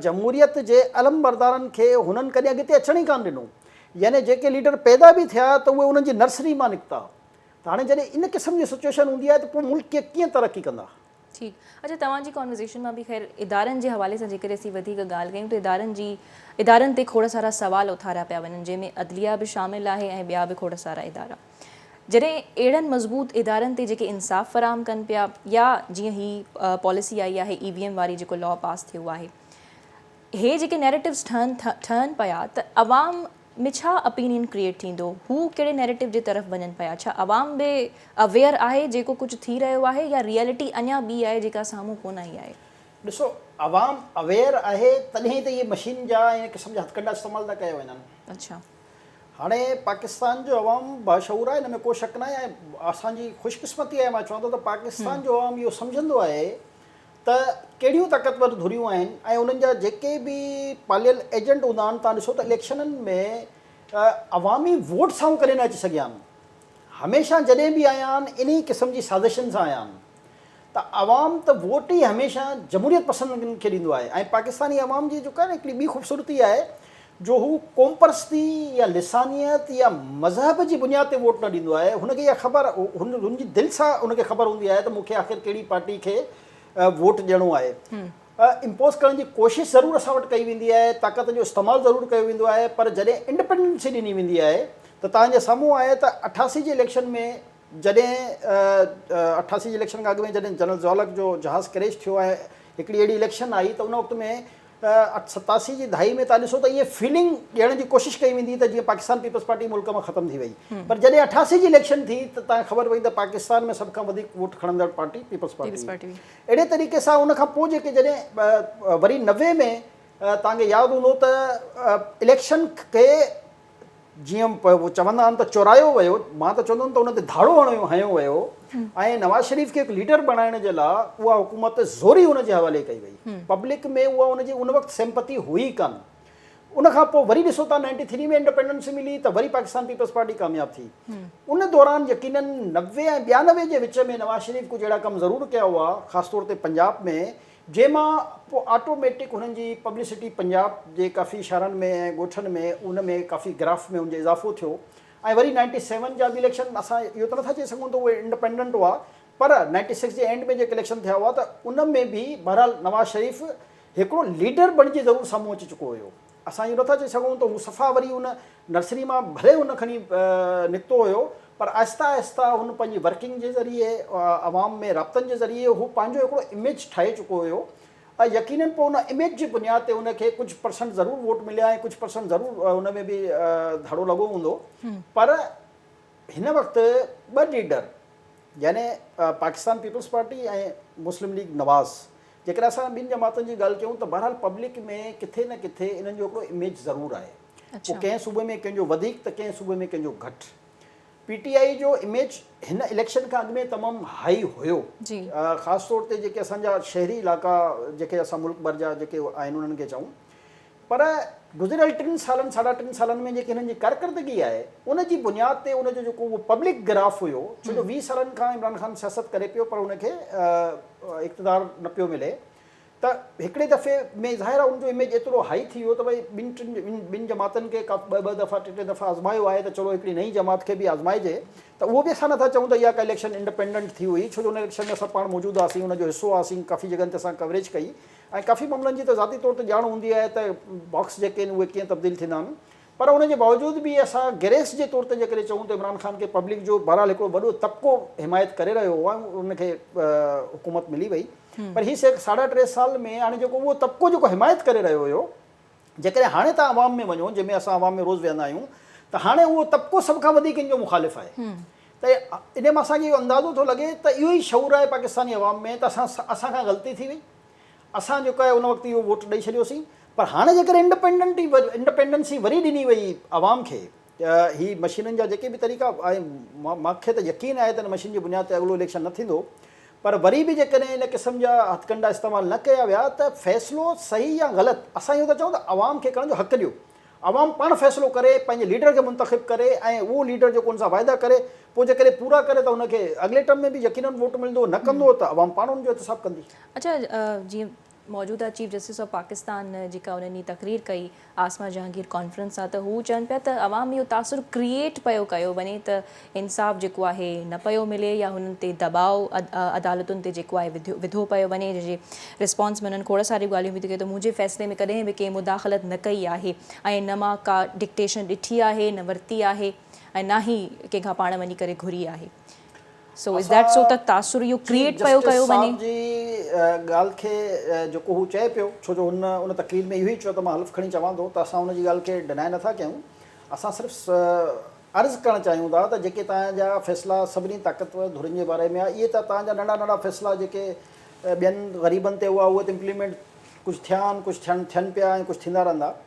جمهوريت جي علمبردارن کي هنن ڪڏهن اڳتي اچڻ ئي ڪانه ڏنو. يعني جيڪي ليڊر پيدا به ٿيا ته اهي انهن جي نرسري مان نڪتا. ته هاڻي جڏهن ان قسم جي سچوئيشن هوندي آهي ته پوء ملڪ ڪيئن ترقي ڪندا. ٺيڪ. اچا توهان جي ڪانورزيشن مان به خير ادارن جي حوالي سان جيڪڏهن اسين وڌيڪ ڳالهه ڪيون ته ادارن جي ادارن تي کوڙ سارا سوال اٿاريا پيا وڃن جنهن ۾ عدليه به شامل آهي ۽ ٻيا به کوڙ سارا ادارا جڏهن اهڙن مضبوط ادارن تي جيڪي انصاف فراهم ڪن پيا يا جيئن هي پاليسي آئي آهي اي وي ايم واري جيڪو لا پاس ٿيو آهي هي جيڪي نيريٽوز ٺهن ٺهن پيا ته عوام ۾ ڇا اپينين ڪريئيٽ ٿيندو، هو ڪهڙي نيريٽو جي طرف وڃن پيا، ڇا عوام به اويئر آهي جيڪو ڪجهه ٿي رهيو آهي يا ريئلٽي اڃا ٻي آهي جيڪا سامهون ڪونه آئي آهي. ڏسو عوام اويئر آهي تڏهن ئي ته اهي مشين جا ۽ ان قسم جا هٿڪنڊا استعمال ٿا ڪيا وڃن. اڇا. هاڻي پاڪستان جو عوام باشعور آهي ان ۾ ڪو شڪ ناهي ۽ اسان جي خوش قسمتي آهي مان چوان ٿو ته پاڪستان جو عوام اهو سمجهندو آهي ته ڪهڙيون طاقتور ڌريون آهن ۽ انهن جا جيڪي به پاليل ايجنٽ هوندا آهن تان ڏسو ته اليڪشنن ۾ عوامي ووٽ سانون ڪڏهن نه اچي سگهيا آهن هميشه جڏهن به آيا آهن انهي قسم جي سازشن سان آيا آهن ته عوام ته ووٽ ئي هميشه جمهوريت پسندن کي ڏيندو آهي ۽ پاڪستاني عوام جي جيڪا هڪڙي ٻي خوبصورتي آهي جو هو قومپرستي يا لسانيت يا مذهب جي بنياد تي ووٽ نه ڏيندو آهي، هن کي اها خبر هن جي دل سان هن کي خبر هوندي آهي ته مون کي آخر ڪهڙي پارٽي کي ووٽ ڏيڻو آهي. امپوز ڪرڻ جي ڪوشش ضرور اسان وٽ ڪئي ويندي آهي، طاقت جو استعمال ضرور ڪيو ويندو آهي پر جڏهن انڊپينڊنسي ڏني ويندي آهي ته توهان جي سامهون آهي ته اٺاسي جي اليڪشن ۾ جڏهن اٺاسي جي اليڪشن کان اڳ ۾ جڏهن جنرل ضياء الحق جو جهاز ڪريش ٿيو ۽ هڪڙي اهڙي اليڪشن آئي ته ان وقت ۾ ته ستاسي جي دهائي ۾ توهان ڏسو ته ائين فيلنگ ڏيڻ جي ڪوشش ڪئي ويندي ته جيئن پاڪستان پيپلز پارٽي ملڪ مان ختم ٿي وئي پر جڏهن اٺاسي جي اليڪشن ٿي ته توهان کي خبر پئي ته پاڪستان ۾ سڀ کان وڌيڪ ووٽ کڻندڙ پارٽي پيپلز پارٽي هئي اهڙي طريقي سان ان کان پوء جيڪي جڏهن وري نوي ۾ توهان کي ياد هوندو ته اليڪشن کي جيئن چوندا آهن ته چورايو ويو، مان ته چوندم ته ان تي ڌاڙو هڻيو هنيو ويو ۽ نواز شريف کي هڪ ليڊر بڻائڻ جي لاء اها حڪومت زوري ان جي حوالي ڪئي وئي. پبلڪ ۾ اها ان جي ان وقت سيمپٿي هئي ئي ڪانه. ان کان پوء وري ڏسو ته نائنٽي ٿري ۾ انڊپينڊنس ملي ته وري پاڪستان پيپلز پارٽي ڪامياب ٿي. ان دوران يقيناً نوي ۽ ٻيانوي جي وچ ۾ نواز شريف ڪجهه اهڙا ڪم ضرور ڪيا هئا خاص طور تي پنجاب ۾ جنهن مان پوء آٽو ميٽڪ هنن جي پبلسٽي پنجاب جي ڪافي شھرن ۾ ۽ ڳوٺن ۾ ان ۾ ڪافي گراف ۾ ان جو اضافو ٿيو ۽ وري نائنٽي سيون جا به اليڪشن اسان اهو ته نٿا چئي سگهون ته اهي انڊپينڊنٽ هئا پر نائنٽي سڪس جي اينڊ ۾ جيڪي اليڪشن ٿيا هئا ته ان ۾ به بهرحال نواز شريف هڪڙو ليڊر بڻجي ضرور سامهون اچي چڪو هيو. اسان اهو نٿا چئي سگهون ته هو صفا وري ان نرسري مان ڀلي هن کڻي نڪتو هيو پر آهستي آهستي هن پنهنجي ورڪنگ جي ذريعي عوام ۾ رابطن جي ذريعي هو پنهنجو هڪڙو اميج ٺاهي چڪو هيو ۽ يقينن پوء ان اميج جي بنياد تي هن کي ڪجهه پرسنٽ ضرور ووٽ مليا ۽ ڪجهه پرسنٽ ضرور ان ۾ به ڌڙو لڳو هوندو پر هن وقت ٻه ليڊر يعني پاڪستان پيپلز پارٽي ۽ مسلم ليگ نواز جيڪڏهن اسان ٻين جماعتن جي ڳالهه ڪيون ته بهرحال پبلڪ ۾ ڪٿي نه ڪٿي انهن جو هڪڙو اميج ضرور آهي. پوء ڪنهن صوبي ۾ ڪنهن جو وڌيڪ ته ڪنهن صوبي ۾ ڪنهن جو گهٽ. پي ٽي آء جو اميج هن اليڪشن کان اڳ ۾ تمام هائي هيو. خاص طور تي جيڪي اسان جا شهري علائقا جيڪي اسان ملڪ ڀر جا جيڪي آهن انهن کي چئون پر گذريل ٽن سالن ساڍا ٽن سالن ۾ جيڪي هنن جي ڪارڪردگي آهي ان جي بنياد تي ان جو جيڪو اهو پبلڪ گراف هيو ڇو جو ويهه سالن کان عمران خان سياست ڪري پيو پر ان کي اقتدار نه پيو ملي ته هڪڙي دفعي ۾ ظاهر آهي ان جو اميج ايترو هائي ٿي ويو ته ڀئي ٻن ٽن ٻن جماعتن کي ڪا ٻه ٻه دفعا ٽي ٽي دفعا آزمايو آهي ته چلو هڪڙي نئين جماعت کي به آزمائجي ته اهو به اسان نٿا چئون ته اها ڪا اليڪشن انڊپينڊنٽ ٿي هئي ڇو جو ان اليڪشن ۾ اسان پاڻ موجود هئاسين ان جو حصو هئاسين ڪافي جڳهن تي اسان ڪوريج ڪئي ۽ ڪافي معاملن جي ته ذاتي طور تي ڄاڻ هوندي آهي ته باڪس جيڪي آهن اهي ڪيئن تبديل ٿيندا آهن پر ان جي باوجود به اسان گريس جي طور تي جيڪڏهن چئون ته عمران خان کي پبلڪ جو بهرحال هڪڙو وڏو طبقو حمايت ڪري رهيو هو ۽ ان کي حڪومت ملي وئي پر هي ساڍا ٽي سال ۾ هاڻي جيڪو اهو طبقو جيڪو حمايت ڪري رهيو هيو جيڪڏهن هاڻي توهان عوام ۾ وڃو جنهن ۾ اسان عوام ۾ روز ويهندا آهيون ته هاڻي اهو طبقو سڀ کان وڌيڪ ان جو مخالف آهي ته ان مان اسان کي اهو اندازو ٿو لڳي ته اهو ئي شعور آهي پاڪستاني عوام ۾ ته اسان اسان کان غلطي ٿي وئي اسان جيڪو آهي ان وقت اهو ووٽ ڏئي ڇڏيوسين پر هاڻي جيڪڏهن انڊپينڊنٽي انڊپينڊنسي وري ڏني وئي عوام کي هي مشينن جا جيڪي به طريقا ۽ مان کي ته يقين آهي ته ان مشين جي بنياد تي اڳلو اليڪشن نه ٿيندو پر وري به جيڪڏهن ان قسم جا هٿڪنڊا استعمال نه ڪيا ويا ته فيصلو صحيح يا غلط اسان اهو ٿا چئون ته عوام کي ڪرڻ جو حق ڏيو عوام پاڻ فيصلو ڪري پنهنجي ليڊر کي منتخب ڪري ۽ اهو ليڊر جيڪو ان سان واعدا ڪري پوء جيڪڏهن پورا ڪري ته ان کي اڳلي ٽرم ۾ به يقينن ووٽ ملندو نه ڪندو ته عوام پاڻ ان جو احتساب ڪندي. اچا جي موجوده چيف جسٽس آف پاڪستان جيڪا انهن ڏينهن تقرير ڪئي عاصمه جهانگير ڪانفرنس سان ته هو چون پيا ته عوام اهو تاثر ڪريئيٽ پيو ڪيو وڃي ته انصاف جيڪو آهي نه پيو ملي يا هنن تي دٻاء عدالتن تي جيڪو آهي وڌو پيو وڃي جنهن جي رسپانس ۾ انهن کوڙ ساريون ڳالهيون به ٿيون ڪيون ته منهنجي فيصلي ۾ ڪڏهن به ڪنهن مداخلت نه ڪئي آهي ۽ نه مان ڪا ڊڪٽيشن ڏٺي آهي نه ورتي آهي ۽ نه ئي ڪنهن کان پاڻ وڃي ڪري گهري آهي سو از ڌيٽ سو ته تاثر اهو ڪريئيٽ پيو ڪيو وڃي. جسٽس صاحب جي ڳالهه کي جيڪو هو چئي پيو ڇو جو هن ان تقرير ۾ اهو ئي چيو ته مان حلف کڻي چوان ٿو ته اسان ان جي ڳالهه کي ڊناء نه ٿا ڪيون اسان صرف عرض ڪرڻ چاهيون ٿا ته جيڪي توهان جا فيصلا سڀني طاقتور ڌرين جي باري ۾ آهي اهي ته توهان جا ننڍا ننڍا فيصلا جيڪي ٻين غريبن تي هئا اهي ته امپليمينٽ ڪجهه ٿيا آهن ڪجهه ٿين پيا ۽ ڪجهه ٿيندا رهندا.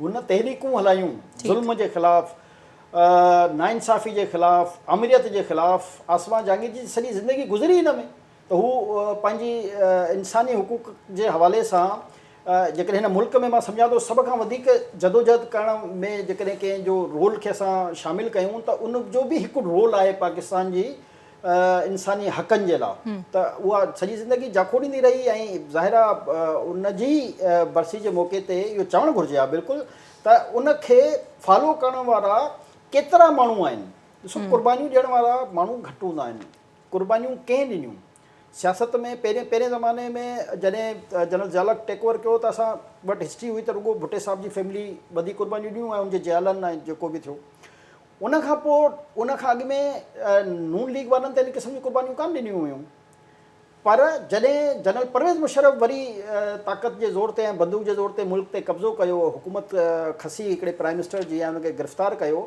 هن تحريڪون هلايون، ظلم جي خلاف، ناانصافي جي خلاف، آمريت جي خلاف، عاصمه جهانگير جي سڄي زندگي گذري هن ۾ ته هو پنهنجي انساني حقوق جي حوالي سان جيڪڏهن هن ملڪ ۾ مان سمجهان ٿو سڀ کان وڌيڪ جدوجهد ڪرڻ ۾ جيڪڏهن ڪنهن جو رول کي اسان شامل ڪيون ته ان جو به هڪ رول آهي پاڪستان جي انساني حقن جي لا ته اها سڄي زندگي جاکوڙ ڏيندي رهي ۽ ظاهر آ ان جي برسي جي موقعي تي اهو چوڻ گهرجي ها بلڪل ته ان کي فالو ڪرڻ وارا ڪيترا ماڻهو آهن ڏسو قربانيون ڏيڻ وارا ماڻهو گهٽ هوندا آهن قربانيون ڪنهن ڏنيون سياست ۾ پهرين پهرين زماني ۾ جڏهن جنرل ضيالق ٽيڪ اوور ڪيو ته اسان وٽ هسٽري هئي ته رڳو ڀٽي صاحب جي فيملي وڌيڪ قربانيون ڏنيون ۽ ان جي جيالن ۽ جيڪو به ٿيو ان کان پوء ان کان اڳ ۾ نون ليگ وارن ته ان قسم جون قربانيون ڪانه ڏنيون هيون پر جڏهن جنرل پرويز مشرف وري طاقت جي زور تي ۽ بندوق جي زور تي ملڪ تي قبضو ڪيو حڪومت کسي هڪڙي پرائيم منسٽر جي ۽ ان کي گرفتار ڪيو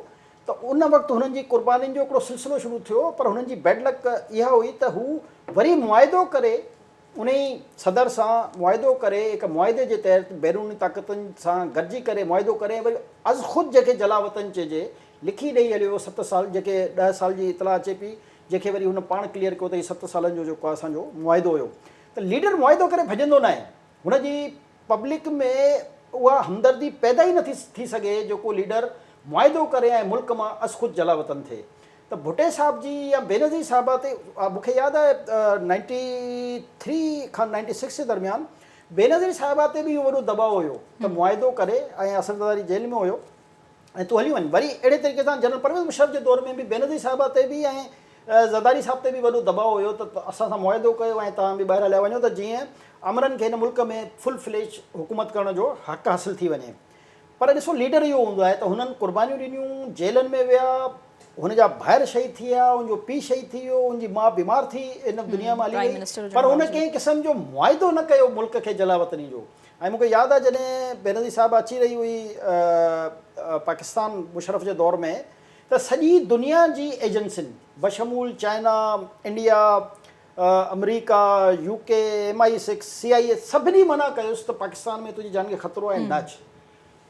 ته ان وقت هنن جي قربانين جو هڪڙو سلسلو شروع ٿيو پر هنن جي بيڊ لڪ اها هئي ته هو وري معاهدو ڪري انهي صدر سان معاهدو ڪري هڪ معاهدي جي تحت بيروني طاقتن سان گڏجي ڪري معاهدو ڪري ۽ وري از خود جنهن کي جلاوطن چئجي لکي ڏئي هليو ويو ست سال جنهن کي ڏهه سال جي اطلاع اچي پئي جنهن کي وري هن پاڻ ڪليئر ڪيو ته هي ست سالن جو جيڪو آهي اسان جو معاهدو هيو ته ليڊر معاهدو ڪري ڀڄندو ناهي هن جي پبلڪ ۾ اها همدردي پيدا ئي نٿي ٿي سگهي جيڪو ليڊر معاهدو ڪري ۽ ملڪ مان از خود جلاوطن ٿئي ته ڀٽي صاحب جي يا بينظير صاحبه تي مون کي ياد آهي نائنٽي ٿري کان نائنٽي سڪس جي درميان بينظير صاحبه تي به اهو وڏو دٻاء هيو ته معاهدو ڪري ۽ اصل زرداري جيل ۾ هيو ۽ تون هلي وڃ وري اهڙي طريقي سان جنرل پرويز مشرف جي دور ۾ به بينظير صاحبه تي به ۽ زرداري صاحب تي به وڏو دٻاء هيو ته اسان سان معاهدو ڪيو ۽ توهان به ٻاهر هليا وڃو ته جيئن آمرن کي هن ملڪ ۾ فل فليج حڪومت ڪرڻ جو حق حاصل ٿي وڃي پر ڏسو ليڊر اهو هوندو آهي ته هنن قربانيون ڏنيون، جيلن ۾ ويا، هن جا ڀائر شهيد ٿيا، هن جو پيء شهيد ٿي ويو، هن جي ماء بيمار ٿي هن دنيا مان هلي وئي پر هن ڪنهن قسم جو معاهدو نه ڪيو ملڪ کي جلاوطني جو ۽ مون کي ياد آهي جڏهن بينظير صاحبه اچي رهي هئي پاڪستان مشرف جي دور ۾ ته سڄي دنيا جي ايجنسين بشمول چائنا، انڊيا، آمريڪا، U K, M I six, C I A سڀني منع ڪيوس ته پاڪستان ۾ تنهنجي جان کي خطرو آهي نه اچ.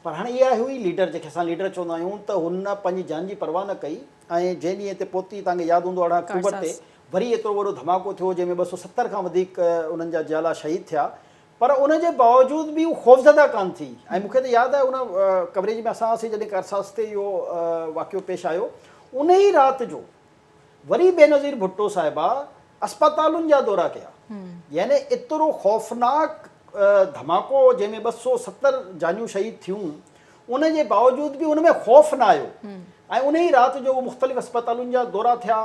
پر هاڻي اهي آهي اهي ليڊر جنهن کي اسان ليڊر چوندا آهيون ته هن پنهنجي جان جي پرواهه نه ڪئي ۽ جنهن ڏينهن تي پوتي توهان کي ياد هوندو ارڙهن اڪٽوبر تي وري ايترو وڏو ڌماڪو ٿيو جنهن ۾ ٻه سؤ ستر کان وڌيڪ انهن جا جيالا شهيد ٿيا پر ان جي باوجود به هو خوفزده ڪانه ٿي ۽ مون کي ته ياد آهي ان ڪوريج ۾ اسان هئاسين جڏهن ڪارساز تي اهو واقعو پيش آيو ان ئي رات جو وري بينظير ڀٽو صاحبه اسپتالن جا دورا ڪيا يعني ايترو خوفناڪ ڌماڪو جنهن ۾ ٻه سؤ ستر جانيون شهيد ٿيون ان جي باوجود به ان ۾ خوف نه آيو ۽ ان ئي رات جو مختلف اسپتالن جا دورا ٿيا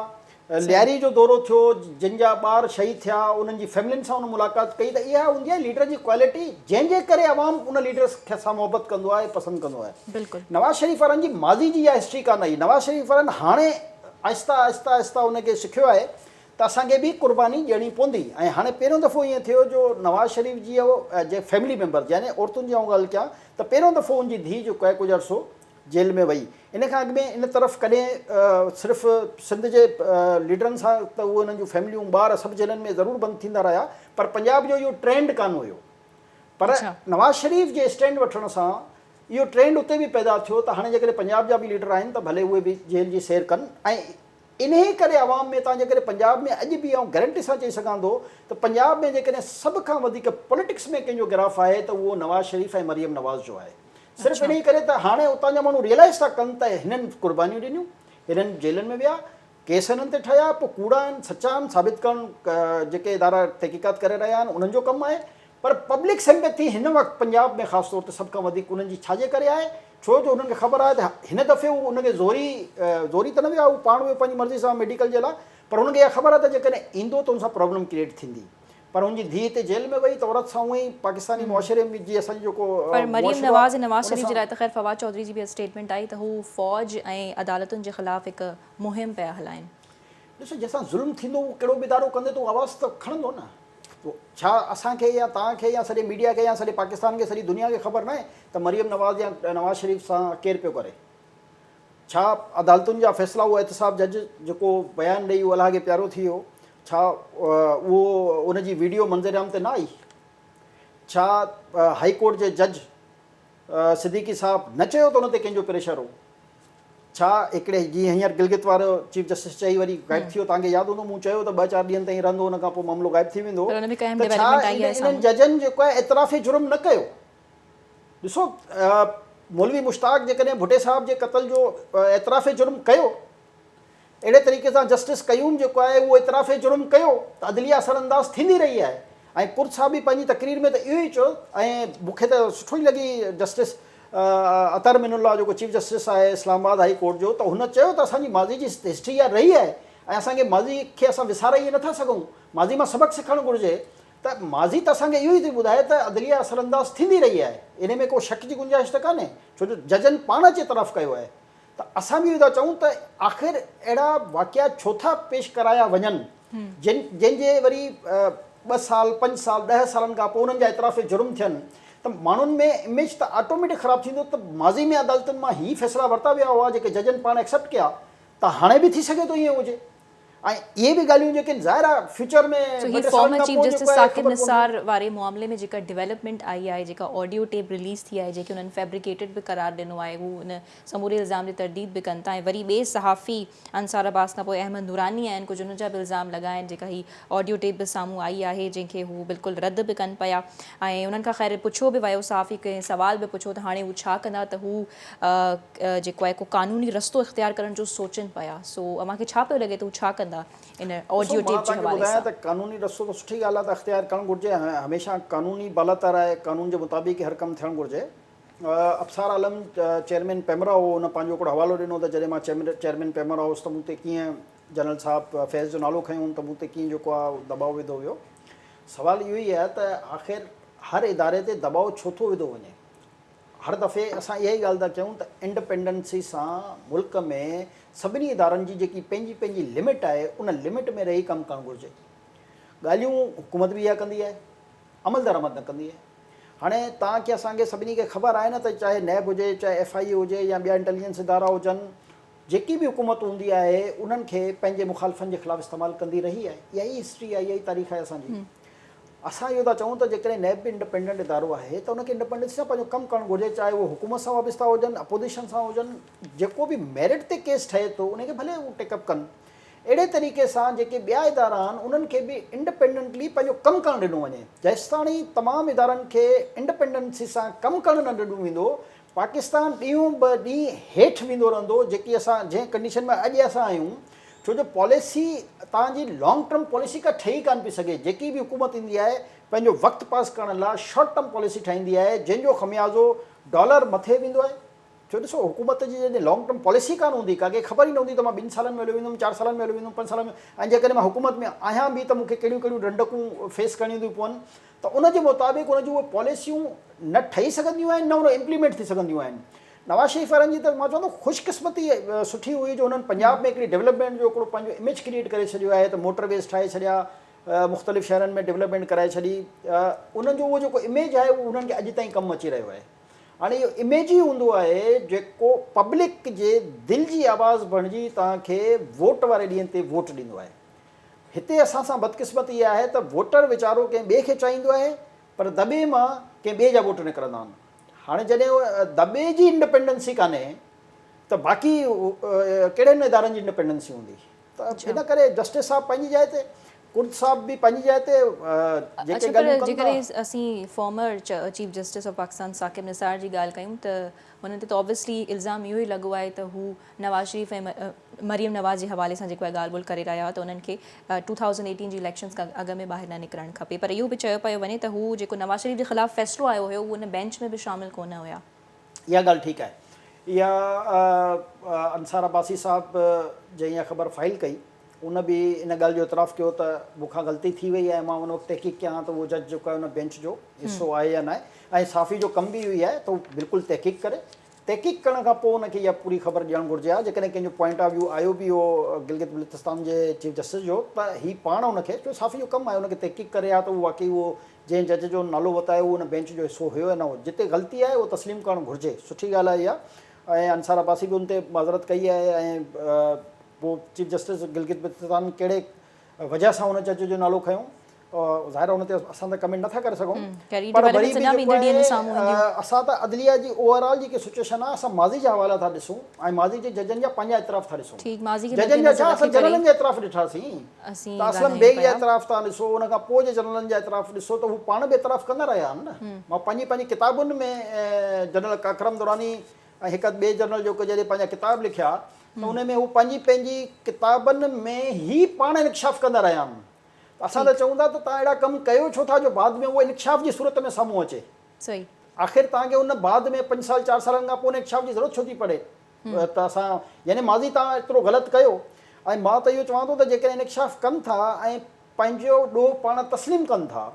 لياري جو دورو ٿيو جن جا ٻار شهيد ٿيا انهن جي فيملين سان ان ملاقات ڪئي ته اها هوندي آهي ليڊر جي ڪوالٽي جنهن جي ڪري عوام ان ليڊر سان محبت ڪندو آهي پسند ڪندو آهي. بلڪل. نواز شريف وارن جي ماضي جي اها هسٽري ڪانه آهي نواز شريف وارن هاڻي آهسته آهسته آهسته ان کي سکيو آهي ته اسان کي به قرباني ڏيڻي پوندي ۽ هاڻي پهريون دفعو ائين ٿيو جو نواز شريف جي اهو جي فيملي ميمبرز يعني عورتن جي آئون ڳالهه ڪيان ته پهريون دفعو ان جي ڌيء جيڪو آهي ڪجهه عرصو جيل ۾ وئي ان کان اڳ ۾ ان طرف ڪڏهن صرف سنڌ جي ليڊرن سان ته اهي انهن جون فيمليون ٻار سڀ جيلن ۾ ضرور بند ٿيندا رهيا پر پنجاب جو اهو ٽرينڊ ڪانه هيو پر نواز شريف جي اسٽينڊ وٺڻ سان اهو ٽرينڊ اتي به پيدا ٿيو ته هاڻي جيڪڏهن پنجاب جا به ليڊر آهن ته ڀلي اهي به جيل جي سير ڪن ۽ انهي ڪري عوام ۾ تان جيڪڏهن پنجاب ۾ اڄ به آئون گرنٽي سان چئي سگهان ٿو ته پنجاب ۾ جيڪڏهن سڀ کان وڌيڪ پوليٽڪس ۾ ڪنهن جو گراف آهي ته اهو نواز شريف ۽ مريم نواز جو آهي صرف انهي ڪري ته هاڻي اتان جا ماڻهو ريئلائز ٿا ڪن ته هنن قربانيون ڏنيون هنن جيلن ۾ ويا ڪيس انهن تي ٺهيا پوء ڪوڙا آهن سچا آهن ثابت ڪرڻ جيڪي ادارا تحقيقات ڪري رهيا آهن انهن جو ڪم آهي پر پبلڪ سمپيٿي هن وقت پنجاب ۾ خاص طور تي سڀ کان وڌيڪ انهن جي ڇاجي ڪري آهي ڇو جو انهن کي خبر آهي ته هن دفعي هو ان کي زوري زوري ته نه ويا هو پاڻ ويو پنهنجي مرضي سان ميڊيڪل جي لاء پر هن کي اها خبر آهي ته جيڪڏهن ايندو ته ان سان پرابلم ڪريئيٽ ٿيندي پر هن جي ڌيء اتي جيل ۾ وئي ته عورت سان هونئن ئي پاڪستاني معاشري ۾ جي اسان جو جيڪو پر مريم معاشرو نواز ۽ آهي نواز ان شريف جي سان لاء ته خير فواد چوڌري جي به اڄ اسٽيٽمينٽ آئي ته هو فوج ۽ عدالتن جي خلاف هڪ مهم پيا هلائين. ڏسو جنهن سان ظلم ٿيندو اهو ڪهڙو به ادارو ڪندي ته اهو آواز ته کڻندو نه. ڇا اسان کي يا توهان کي يا سڄي ميڊيا کي يا سڄي پاڪستان کي سڄي دنيا کي خبر ناهي ته مريم نواز يا نواز شريف سان ڪير پيو ڪري. ڇا عدالتن جا فيصلا اهو احتساب جج جيڪو بيان ڏئي اهو الهاڳي پيارو ٿي ويو ڇا اهو ان جي ويڊيو منظرعام تي نه آئي؟ ڇا هائي ڪورٽ جي جج صديقي صاحب نه چيو ته ان تي ڪنهن جو پريشر هو؟ ڇا هڪڙي جيئن هينئر گلگت وارو چيف جسٽس چئي وري غائب ٿي ويو توهان کي ياد هوندو مون چيو ته ٻه چار ڏينهن تائين رهندو ان کان پوء معاملو غائب ٿي ويندو ته ڇا انهن ججن جيڪو اعتراف جرم نه ڪيو؟ ڏسو مولوي مشتاق جيڪڏهن ڀٽي صاحب جي قتل جو اعتراف جرم ڪيو اهڙي طريقي سان جسٽس قيوم جيڪو آهي اهو اعتراف جرم ڪيو ته عدليه اثر انداز ٿيندي رهي آهي ۽ ڪرد صاحب به پنهنجي تقرير ۾ ته اهو ئي چيو ۽ مون کي ته سٺو ئي لڳي جسٽس عطر من الله جيڪو چيف جسٽس آهي اسلام آباد هائي ڪورٽ جو ته هن چيو ته اسان جي ماضي جي هسٽري اها رهي آهي ۽ اسان کي ماضي کي اسان وساري ائين نٿا سگهون ماضي مان سبق سکڻ گهرجي ته ماضي ته اسان کي اهو ئي ٿي ٻڌائي ته عدليه اثرانداز ٿيندي رهي آهي، انهي ۾ ڪو شڪ جي گنجائش ته ڪانهي ڇو جو ججن پاڻ اچي اعتراف ڪيو آهي ته اسان به اهو ئي ٿا چئون ته آخر اهڙا واقعا ڇو ٿا پيش ڪرايا وڃن جن جن جي وري ٻه سال پنج سال ڏهه سالن کان پوء انهن جا اعتراف جرم ٿين ته ماڻهن ۾ اميج ته آٽوميٽڪ خراب ٿيندو ته ماضي ۾ عدالتن مان هي فيصلا ورتا ويا هئا جيڪي ججن پاڻ ايڪسيپٽ ڪيا ته هاڻي به ٿي سگهي ٿو ائين هجي. ۽ اهي به ڳالهيون جيڪي ظاهر آهي فيوچر ۾ سو هي former chief justice Saqib Nisar واري معاملي ۾ جيڪا ڊيولپمينٽ آئي آهي جيڪا آڊيو ٽيپ رليز ٿي آهي جيڪي انهن فيبريڪيٽيڊ به قرار ڏنو آهي هو ان سموري الزام جي ترديد به ڪن ٿا ۽ وري ٻئي صحافي انصار عباس کانپوء احمد نوراني آهن ڪجهه ان جا به الزام لڳا آهن جيڪا هي آڊيو ٽيپ به سامهون آئي آهي جنهن کي هو بلڪل رد به ڪن پيا ۽ انهن کان خير پڇيو به ويو صحافي کي سوال به پڇيو ته هاڻي هو ڇا ڪندا ته هو جيڪو آهي ڪو قانوني رستو اختيار ڪرڻ جو سوچين پيا سو اوهان کي ڇا پيو لڳي ته هو ڇا ڪندا ان آڊيو ٽيپ جي حوالي سان؟ ڏسو مان تهان کي ٻڌايان ته قانوني رستو ته سٺي ڳالهه آهي ته اختيار ڪرڻ گهرجي هميشه قانوني بالاتر آهي قانون جي مطابق ئي هر ڪم ٿيڻ گهرجي ابصار عالم چيئرمين پيمرا هو هن پنهنجو هڪڙو حوالو ڏنو ته جڏهن مان چيئرمين پيمرا هوس ته مون تي ڪيئن جنرل صاحب فيض جو نالو کنيو هئم ته مون تي ڪيئن جيڪو آهي اهو دٻاء وڌو ويو سوال اهو ئي آهي ته آخر هر اداري تي دٻاء ڇو ٿو وڌو وڃي هر دفعي اسان اها ئي ڳالهه ٿا چئون ته انڊپينڊنسي سان ملڪ ۾ سڀني ادارن جي جيڪي پنهنجي پنهنجي لمٽ آهي ان لمٽ ۾ رهي ڪم ڪرڻ گهرجي. ڳالهيون حڪومت به اها ڪندي آهي، عمل درآمد نه ڪندي آهي. هاڻي تان کي اسان کي سڀني کي خبر آهي نه ته چاهي نيب هجي، چاهي ايف آء اي هجي يا ٻيا انٽيليجنس ادارا هجن جيڪي به حڪومت هوندي آهي انهن کي پنهنجي مخالفن جي خلاف استعمال ڪندي رهي آهي اها ئي هسٽري آهي اها ئي تاريخ آهي اسان جي اسان اهو ٿا چئون ته جيڪڏهن نيب به انڊپينڊنٽ ادارو آهي ته ان کي انڊپينڊنسي سان پنهنجو ڪم ڪرڻ گهرجي چاهي اهو حڪومت سان وابسته هجن اپوزيشن سان هجن جيڪو به ميرٽ تي ڪيس ٺهي ٿو ان کي ڀلي هو ٽيڪ اپ ڪن اهڙي طريقي سان جيڪي ٻيا ادارا آهن انهن کي به انڊپينڊنٽلي پنهنجو ڪم ڪرڻ ڏنو وڃي جيستاڻي تمام ادارن کي انڊپينڊنسي سان ڪم ڪرڻ نه ڏنو ويندو پاڪستان ڏينهون به ڏينهن هيٺ ويندو رهندو جيڪي اسان جنهن ڪنڊيشن ۾ اڄ اسان آهيون ڇو جو پاليسي تان جي لانگ ٽرم پاليسي ڪا ٺهي ڪانه پئي سگهي جيڪي به حڪومت ايندي آهي پنهنجو وقت پاس ڪرڻ لا شارٽ ٽرم پاليسي ٺاهيندي آهي جنهن جو خميازو ڊالر مٿي ويندو آهي ڇو ڏسو حڪومت جي جڏهن لانگ ٽرم پاليسي ڪانه هوندي ڪا کي خبر ئي نه هوندي ته مان ٻن سالن ۾ هليو ويندم چار سالن ۾ هليو ويندم پنج سالن ۾ ۽ جيڪڏهن مان حڪومت ۾ آهيان به ته مون کي ڪهڙيون ڪهڙيون رنڊڪون فيس ڪرڻيون ٿيون پون ته ان جي مطابق ان جون اهي پاليسيون نه ٺهي سگهنديون آهن نه ان امپليمينٽ ٿي سگهنديون آهن. نواز شريف وارن جي ته مان چوان ٿو خوش قسمتي سٺي هئي جو هنن پنجاب ۾ هڪڙي ڊولپمينٽ جو هڪڙو پنهنجو اميج ڪريئيٽ ڪري ڇڏيو آهي ته موٽر ويز ٺاهي ڇڏيا مختلف شهرن ۾ ڊولپمينٽ ڪرائي ڇڏي انهن جو اهو جيڪو اميج آهي اهو انهن کي اڄ تائين ڪم اچي رهيو آهي هاڻي اهو اميج ئي هوندو آهي جيڪو پبلڪ جي دل جي آواز بڻجي توهان کي ووٽ واري ڏينهن تي ووٽ ڏيندو آهي. هتي اسان سان بدقسمتي اها آهي ته ووٽر ويچارو ڪنهن ٻئي کي چاهيندو آهي پر دٻي مان ڪنهن ٻئي جا ووٽ نڪرندا آهن. هاڻي جڏهن دٻي جي انڊپينڊنسي ڪانهي ته باقي ڪهڙن ادارن جي انڊپينڊنسي هوندي؟ ته ان ڪري جسٽس صاحب پنهنجي جاء تي، ڪرد صاحب به پنهنجي جاء تي جيڪي ڳالهيون ڪن ٿا. اڇا پر جيڪڏهن اسين former chief justice of Pakistan Saqib Nisar جي ڳالهه ڪيون ته هن تي ته اوبويسلي الزام اهو ئي لڳو آهي ته هو نواز شريف ۽ مريم نواز جي حوالي سان جيڪو اهي ڳالهه ٻولهه ڪري رهيا هئا ته انهن کي ٽو ٿائوزنڊ ايٽين جي اليڪشنز کان اڳ ۾ ٻاهر نه نڪرڻ کپي پر اهو به چيو پيو وڃي ته هو جيڪو نواز شريف جي خلاف فيصلو آيو هيو اهو ان بينچ ۾ به شامل ڪونه هيا. اها ڳالهه ٺيڪ آهي اها انصار عباسي صاحب جنهن اها خبر فائل ڪئي ان به ان ڳالهه جو اعتراف ڪيو ته مون کان غلطي ٿي وئي آهي مان ان وقت تحقيق ڪيان ها ته اهو جج جيڪو آهي ان بينچ جو حصو آهي يا ناهي ۽ صحافي جو ڪم به اهو ئي آهي ته هو بلڪل تحقيق ڪري تحقيق ڪرڻ کان پوء ان کي اها پوري خبر ڏيڻ گهرجي ها جيڪڏهن ڪنهن جو پوائنٽ آف ويو آيو به هو گلگت بلتستان جي چيف جسٽس جو ته هي پاڻ ان کي ڇو صحافي جو ڪم آهي ان کي تحقيق ڪري ها ته اهو واقعي اهو جنهن جج جو نالو وتايو اهو ان بينچ جو حصو هيو يا نه هو جتي غلطي آهي اهو تسليم ڪرڻ گهرجي سٺي ڳالهه آهي اها ۽ انصار عباسي به ان تي معذرت ڪئي آهي ۽ پوء چيف جسٽس گلگت بلتستان ڪهڙي وجهه سان هن جج جو نالو کنيو ظاهر ان تي اسان ته ڪمينٽ نٿا ڪري سگهون پر وري به جيڪو آهي اسان ته عدليه جي اوور آل جيڪي سچويشن آهي اسان ماضي جا حوالا ٿا ڏسون ۽ ماضي جي ججن جا پنهنجا اعتراف ٿا ڏسون ججن جا ڇا اسان جنرلن جا اعتراف ڏٺاسين ته اسلم بيگ جا اعتراف تان ڏسو ان کان پوء جي جنرلن جا اعتراف ڏسو ته هو پاڻ به اعتراف ڪندا رهيا آهن نه مان پنهنجي پنهنجي ڪتابن ۾ جنرل ڪاڪرم دراني ۽ هڪ اڌ ٻئي جرنل جوڪو جڏهن پنهنجا ڪتاب لکيا ته انهن ۾ هو پنهنجي پنهنجي ڪتابن ۾ ئي پاڻ انڪشاف ڪندا رهيا آهن ته اسان ته چئون ٿا ته تان اهڙا ڪم ڪيو ڇو ٿا جو بعد ۾ اهو انڪشاف جي صورت ۾ سامهون اچي آخر تان کي ان بعد ۾ پنج سال چار سالن کان پوء انڪشاف جي ضرورت ڇو ٿي پڙي ته اسان يعني ماضي تان ايترو غلط ڪيو ۽ مان ته اهو چوان ٿو ته جيڪڏهن انڪشاف ڪن ٿا ۽ پنهنجو ڏوهه پاڻ تسليم ڪن ٿا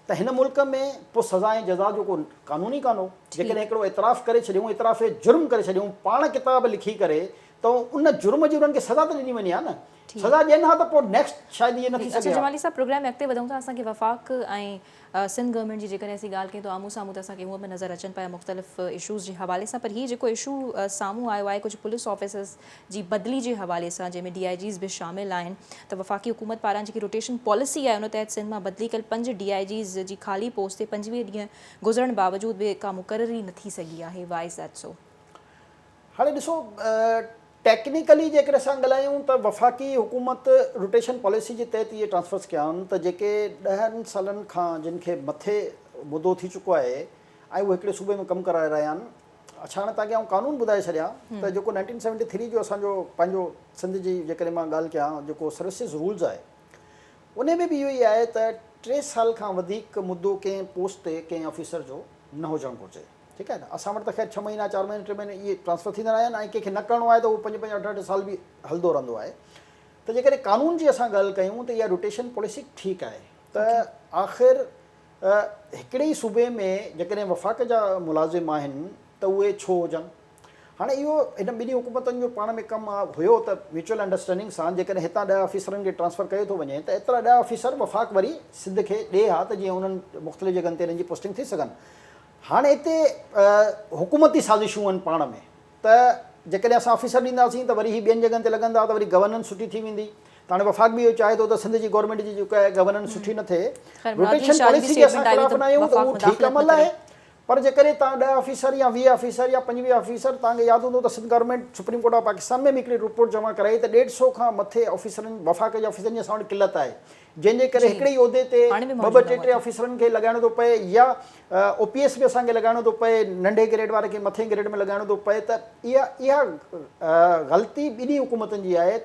ته هن ملڪ ۾ پوء سزا ۽ جزا جو ڪو قانون ئي ڪانه هو. جيڪڏهن هڪڙو اعتراف ڪري ڇڏيون، اعتراف جرم ڪري ڇڏيون، پاڻ ڪتاب لکي ڪري ته ان جرم جي انهن کي سزا ته ڏني وڃي ها نه. سزا ڏين ها ته پوء نيڪسٽ شايد ائين نه ٿي سگهي ها. اچو جمالي صاحب پروگرام ۾ اڳتي وڌون ٿا. اسان کي وفاق ۽ سنڌ گورنمينٽ جي جيڪڏهن اسين ڳالهه ڪيون ته آمهون سامهون ته اسان کي هونئن به نظر اچن پيا مختلف اشوز جي حوالي سان پر هي جيڪو اشو سامهون آيو آهي ڪجهه پوليس آفيسرز جي بدلي جي حوالي سان جنهن ۾ ڊي آء جيز به شامل آهن ته وفاقي حڪومت پاران جيڪي روٽيشن پاليسي آهي ان تحت سنڌ مان بدلي ڪيل پنج ڊي آء جيز جي خالي پوسٽ تي پنجويهه ڏينهن گذرڻ باوجود به ڪا مقرري نه ٿي سگهي آهي وائي از ڌيٽ سو؟ هاڻي ڏسو ٽيڪنيڪلي جيڪڏهن اسان ڳالهايون ته وفاقي حڪومت روٽيشن پاليسي جي تحت اهي ٽرانسفرز ڪيا آهن ته جيڪي ڏهن سالن کان جن کي مٿي مدو ٿي چڪو آهي ۽ اهي هڪڙي صوبي ۾ ڪم ڪرائي رهيا آهن اڇاڻ تان اڳيان آئون قانون ٻڌائي ڇڏيان ته جيڪو نائنٽين سيونٽي ٿري جو اسان جو پنهنجو سنڌ جي جيڪڏهن مان ڳالهه ڪيان جيڪو سروسز رولز آهي انهي ۾ به اهو ئي آهي ته ٽي سال کان وڌيڪ مدو ڪنهن پوسٽ تي ڪنهن آفيسر جو نه هجڻ گهرجي ٺيڪ آهي نه اسان وٽ ته خير ڇهه مهينا چار مهينا ٽي مهينا اهي ٽرانسفر ٿيندا رهيا آهن ۽ ڪنهن کي نه ڪرڻو آهي ته اهو پنج پنج اٺ اٺ سال به هلندو رهندو آهي ته جيڪڏهن قانون جي اسان ڳالهه ڪيون ته اها روٽيشن پاليسي ٺيڪ آهي ته آخر هڪڙي ئي صوبي ۾ جيڪڏهن وفاق جا ملازم آهن ته اهي ڇو هجن؟ هاڻي اهو هن ٻنهي حڪومتن جو پاڻ ۾ ڪم هيو ته ميوچل انڊرسٽينڊنگ سان جيڪڏهن هتان ڏهه آفيسرن کي ٽرانسفر ڪيو ٿو وڃي ته ايترا ڏهه آفيسر وفاق وري سنڌ کي ڏئي ها ته جيئن انهن مختلف جڳهن تي انهن جي پوسٽنگ ٿي سگهن هاڻي هتي حڪومتي سازشون آهن پاڻ ۾. ته جيڪڏهن اسان آفيسر ڏينداسين ته وري هي ٻين جڳهن تي لڳندا ته وري گورننس سٺي ٿي ويندي ته هاڻي وفاق به اهو چاهي ٿو ته سنڌ جي گورنمينٽ جي جيڪا آهي گورننس سٺي نه ٿئي خير مراد جي روٽيشن شاهه جي پاليسي جي اسان اسٽيٽمينٽ آئي وئي خلاف ته نه آهيون ته وفاق اهو ٺيڪ مداخلت نه عمل ڪري. آهي پر جيڪڏهن توهان ڏهه آفيسر يا ويهه آفيسر يا پنجويهه آفيسر توهان کي ياد هوندو ته Sindh government supreme court of Pakistan ۾ به هڪڙي رپورٽ جمع ڪرائي ته ڏيڍ سئو کان مٿي آفيسرن وفاق جي آفيسرن جي اسان وٽ قلت آهي جنهن جي ڪري هڪڙي ئي عهدي تي ٻه ٻه ٽي ٽي آفيسرن کي لڳائڻو ٿو پئي يا او پي ايس به اسان کي لڳائڻو ٿو پئي ننڍي گريڊ واري کي مٿين گريڊ ۾ لڳائڻو ٿو پئي ته اها اها غلطي ٻنهي حڪومتن جي آهي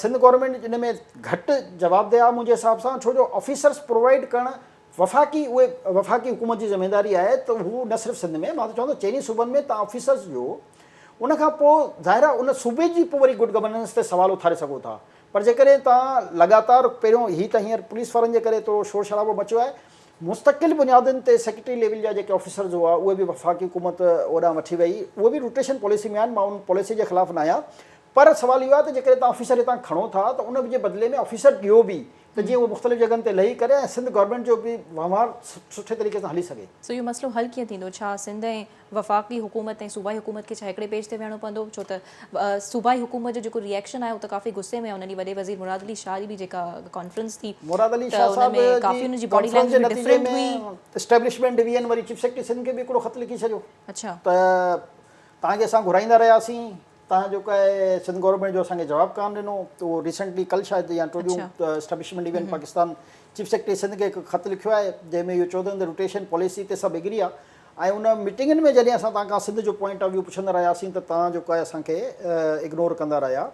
سنڌ گورنمينٽ ان ۾ گهٽ جوابده آهي منهنجي حساب سان ڇو جو آفيسرس پرووائيڊ ڪرڻ وفاقي اهي وفاقي حڪومت جي ذميواري آهي ته هو نه صرف سنڌ ۾ مان ته چوندو چئني صوبن ۾ تان آفيسرس جو ان کان پوء ظاهر آهي ان صوبي جي پوء وري گڊ گورننس تي سوال اٿاري سگهو ٿا پر جيڪڏهن توهان لڳاتار پهريون هي ته هينئر پوليس وارن جي ڪري ٿورو شور شرابو مچيو آهي، مستقل بنيادن تي سيڪريٽري ليول جا جيڪي آفيسرز هئا اهي به وفاقي حڪومت اوڏانهن وٺي وئي، اهي به روٽيشن پاليسي ۾ آهن، مان ان پاليسي جي خلاف ناهيان پر سوال اهو آهي ته جيڪڏهن توهان آفيسر هتان کڻو ٿا ته ان جي بدلي ۾ آفيسر ڏيو به ته جيئن اهو مختلف جڳهن تي لهي ڪري ۽ سنڌ گورنمينٽ جو به وهنوار سٺي طريقي سان هلي سگهي. سو اهو مسئلو حل ڪيئن ٿيندو، ڇا سنڌ ۽ وفاقي حڪومت ۽ صوبائي حڪومت کي ڇا هڪڙي پيج تي ويهڻو پوندو ڇو ته صوبائي حڪومت جو جيڪو ري ايڪشن آيو ته ڪافي غصي ۾ انهن ڏينهن وڏي وزير مراد علي شاهه جي به جيڪا ڪانفرنس ٿي مراد علي شاهه صاحب جي ڪانفرنس جي نتيجي ۾ اسٽيبلشمينٽ ڊويزن وري چيف سيڪريٽري سنڌ کي به هڪڙو خط لکي ڇڏيو ته توهان کي اسان گهرائيندا رهياسين توهان جيڪو آهي سنڌ گورنمينٽ جو اسان کي جواب ڪانه ڏنو ته اهو ريسنٽلي ڪل شايد يا ٽو ڏينهن establishment division Pakistan chief secretary Sindh کي هڪ خط لکيو آهي جنهن ۾ اهو چوندو ته روٽيشن پاليسي تي سڀ ايگري آهي ۽ ان ميٽنگن ۾ جڏهن اسان توهان کان سنڌ جو پوائنٽ آف ويو پڇندا رهياسين ته توهان جيڪو آهي اسان کي اگنور ڪندا رهيا.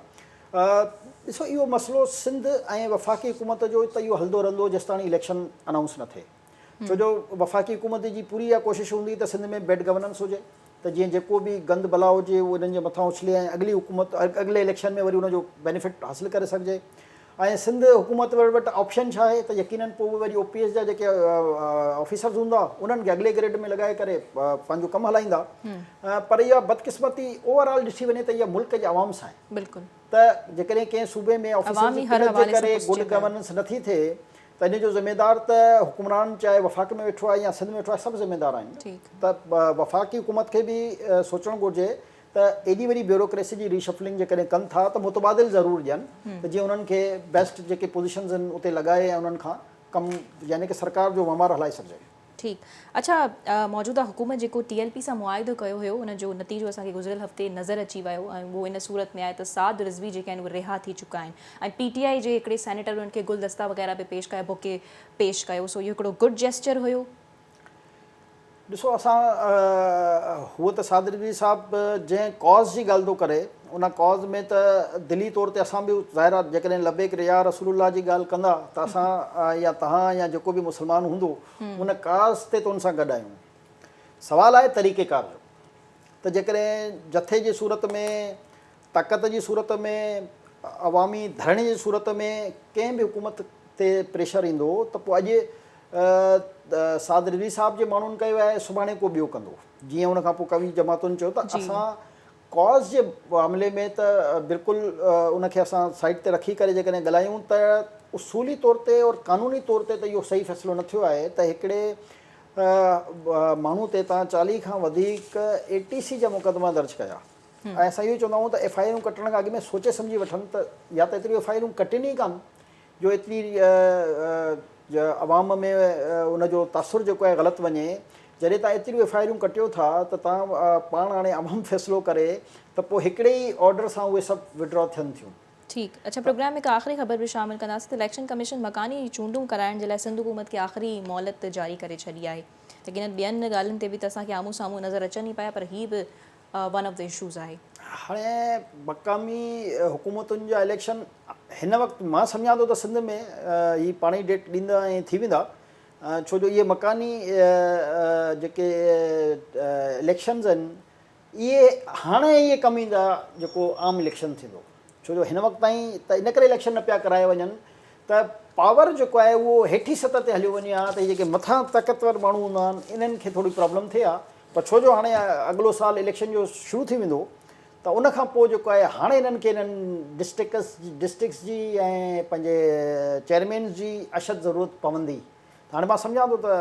ڏسو اهو مسئلو سنڌ ۽ وفاقي حڪومت جو ته اهو هلندو رهندو جيستاڻي اليڪشن انائونس نه ٿئي. ڇو جو وفاقي حڪومت جي پوري اها ڪوشش هوندي ته سنڌ ۾ بيڊ گورننس هجي ته جيئن جيڪو به گند بلا هجي اهو انهن جي مٿان اڇلي ۽ اڳلي حڪومت اڳلي اليڪشن ۾ وري ان جو بينيفٽ حاصل ڪري سگهجي. ۽ سنڌ حڪومت وٽ آپشن ڇا آهي ته يقينن پوء به وري او پي ايس جا جيڪي آفيسرز هوندا انهن کي اڳلي گريڊ ۾ لڳائي ڪري پنهنجو ڪم هلائيندا پر اها بدقسمتي اوور آل ڏٺي وڃي ته اها ملڪ جي عوام سان آهي ته جيڪڏهن ڪنهن صوبي ۾ آفيسرز جي قلت جي ڪري گڊ گورننس نٿي ٿئي ته ان جو ذميدار ته حڪمران چاهي وفاق ۾ ويٺو آهي يا سنڌ ۾ ويٺو آهي سڀ ذميدار آهن ته وفاقي حڪومت کي به سوچڻ گهرجي ته ايڏي وڏي بيوروڪريسي جي ري شفلنگ جيڪڏهن ڪن ٿا ته متبادل ضرور ڏين ته جيئن انهن کي بيسٽ جيڪي پوزيشنز آهن اتي لڳائي ۽ انهن کان ڪم يعني ڪه سرڪار جو وهنوار هلائي سگهجي. ٺيڪ اڇا موجوده حڪومت جيڪو ٽي ايل پي سان معاهدو ڪيو هيو ان جو نتيجو اسان کي گذريل هفتي نظر اچي ويو ۽ اهو ان صورت ۾ آهي ته سعد رضوي جيڪي آهن اهي رها ٿي چڪا آهن ۽ پي ٽي آئي جي هڪڙي سينيٽر انهن کي گلدستا وغيره به پيش ڪيا بوڪي پيش ڪيو سو اهو هڪڙو گڊ جيسچر هيو ڏسو اسان هو ته صادقي صاحب جنهن ڪاز جي ڳالهه ٿو ڪري ان ڪاز ۾ ته دلي طور تي اسان به ظاهر آهي جيڪڏهن لبيڪ ريا رسول الله جي ڳالهه ڪندا ته اسان يا تهان يا جيڪو به مسلمان هوندو ان ڪاز تي ته ان سان گڏ آهيون سوال آهي طريقيڪار جو ته جيڪڏهن جٿي جي صورت ۾ طاقت جي صورت ۾ عوامي ڌرڻي جي صورت ۾ ڪنهن به حڪومت تي پريشر ايندو ته پوء اڄ سعد رضوي صاحب جي ماڻهن ڪيو آهي سڀاڻي ڪو ٻيو ڪندو جيئن ان کان پوء قوي جماعتن چيو ته اسان ڪاز جي معاملي ۾ ته بلڪل ان کي اسان سائيڊ تي رکي ڪري جيڪڏهن ڳالهايون ته اصولي طور تي اور قانوني طور تي ته اهو صحيح فيصلو نه ٿيو آهي ته هڪڙي ماڻهو تي تان چاليهه کان وڌيڪ اي ٽي سي جا مقدما درج ڪيا ۽ اسان اهو چوندا آهيون ته ايف آء آرون ڪٽڻ کان اڳ ۾ سوچي سمجهي وٺن ته يا ته ايتريون ايف آء آرون ڪٽين ئي ڪانه جو ايتري عوام ۾ ان جو تاثر جيڪو آهي غلط وڃي، جڏهن تان ايتريون ايف آء آرون ڪٽيو ٿا ته تان پاڻ هاڻي عوام فيصلو ڪري ته پوء هڪڙي ئي آرڊر سان اهي سڀ وڊرا ٿين ٿيون. ٺيڪ اچا پروگرام ۾ هڪ آخري خبر به شامل ڪنداسين ته اليڪشن ڪميشن مڪاني چونڊون ڪرائڻ جي لاء سنڌ حڪومت کي آخري مهلت جاري ڪري ڇڏي آهي يقينن ٻين ڳالهين تي به ته اسان کي آمهون سامهون نظر اچن ئي پيا پر هي به ون آف دي اشوز آهي. هاڻي مقامي حڪومتن جا اليڪشن هن وقت مان سمجهان ٿو ته سنڌ ۾ هي پاڻ ئي ڊيٽ ڏيندا ۽ ٿي ويندا ڇو جو اهي مڪاني جيڪي اليڪشنز آهن اهي هاڻي اهي ڪم ايندا جيڪو عام اليڪشن ٿيندو ڇو جو هن وقت تائين ته ان ڪري اليڪشن نه پيا ڪرايا وڃن ته پاور جيڪو آهي اهو هيٺين سطح تي هليو وڃي ها ته هي جيڪي مٿان طاقتور ماڻهو هوندا آهن انهن کي ٿوري پرابلم ٿئي ها پر ڇو جو هاڻي اڳلو سال اليڪشن جو شروع ٿي ويندو ته ان کان پوء جيڪو آهي هاڻي انهن کي انهن ڊسٽرڪس ڊسٽرڪس جي ۽ پنهنجي چيئرمينز جي اشد ضرورت پوندي ته هاڻي مان سمجهان ٿو ته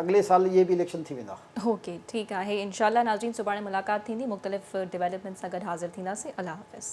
اڳلي سال اهي به اليڪشن ٿي ويندا. اوڪي ٺيڪ آهي انشاء الله ناظرين سڀاڻي ملاقات ٿيندي مختلف ڊيولپمينٽس سان گڏ حاضر ٿينداسين الله حافظ.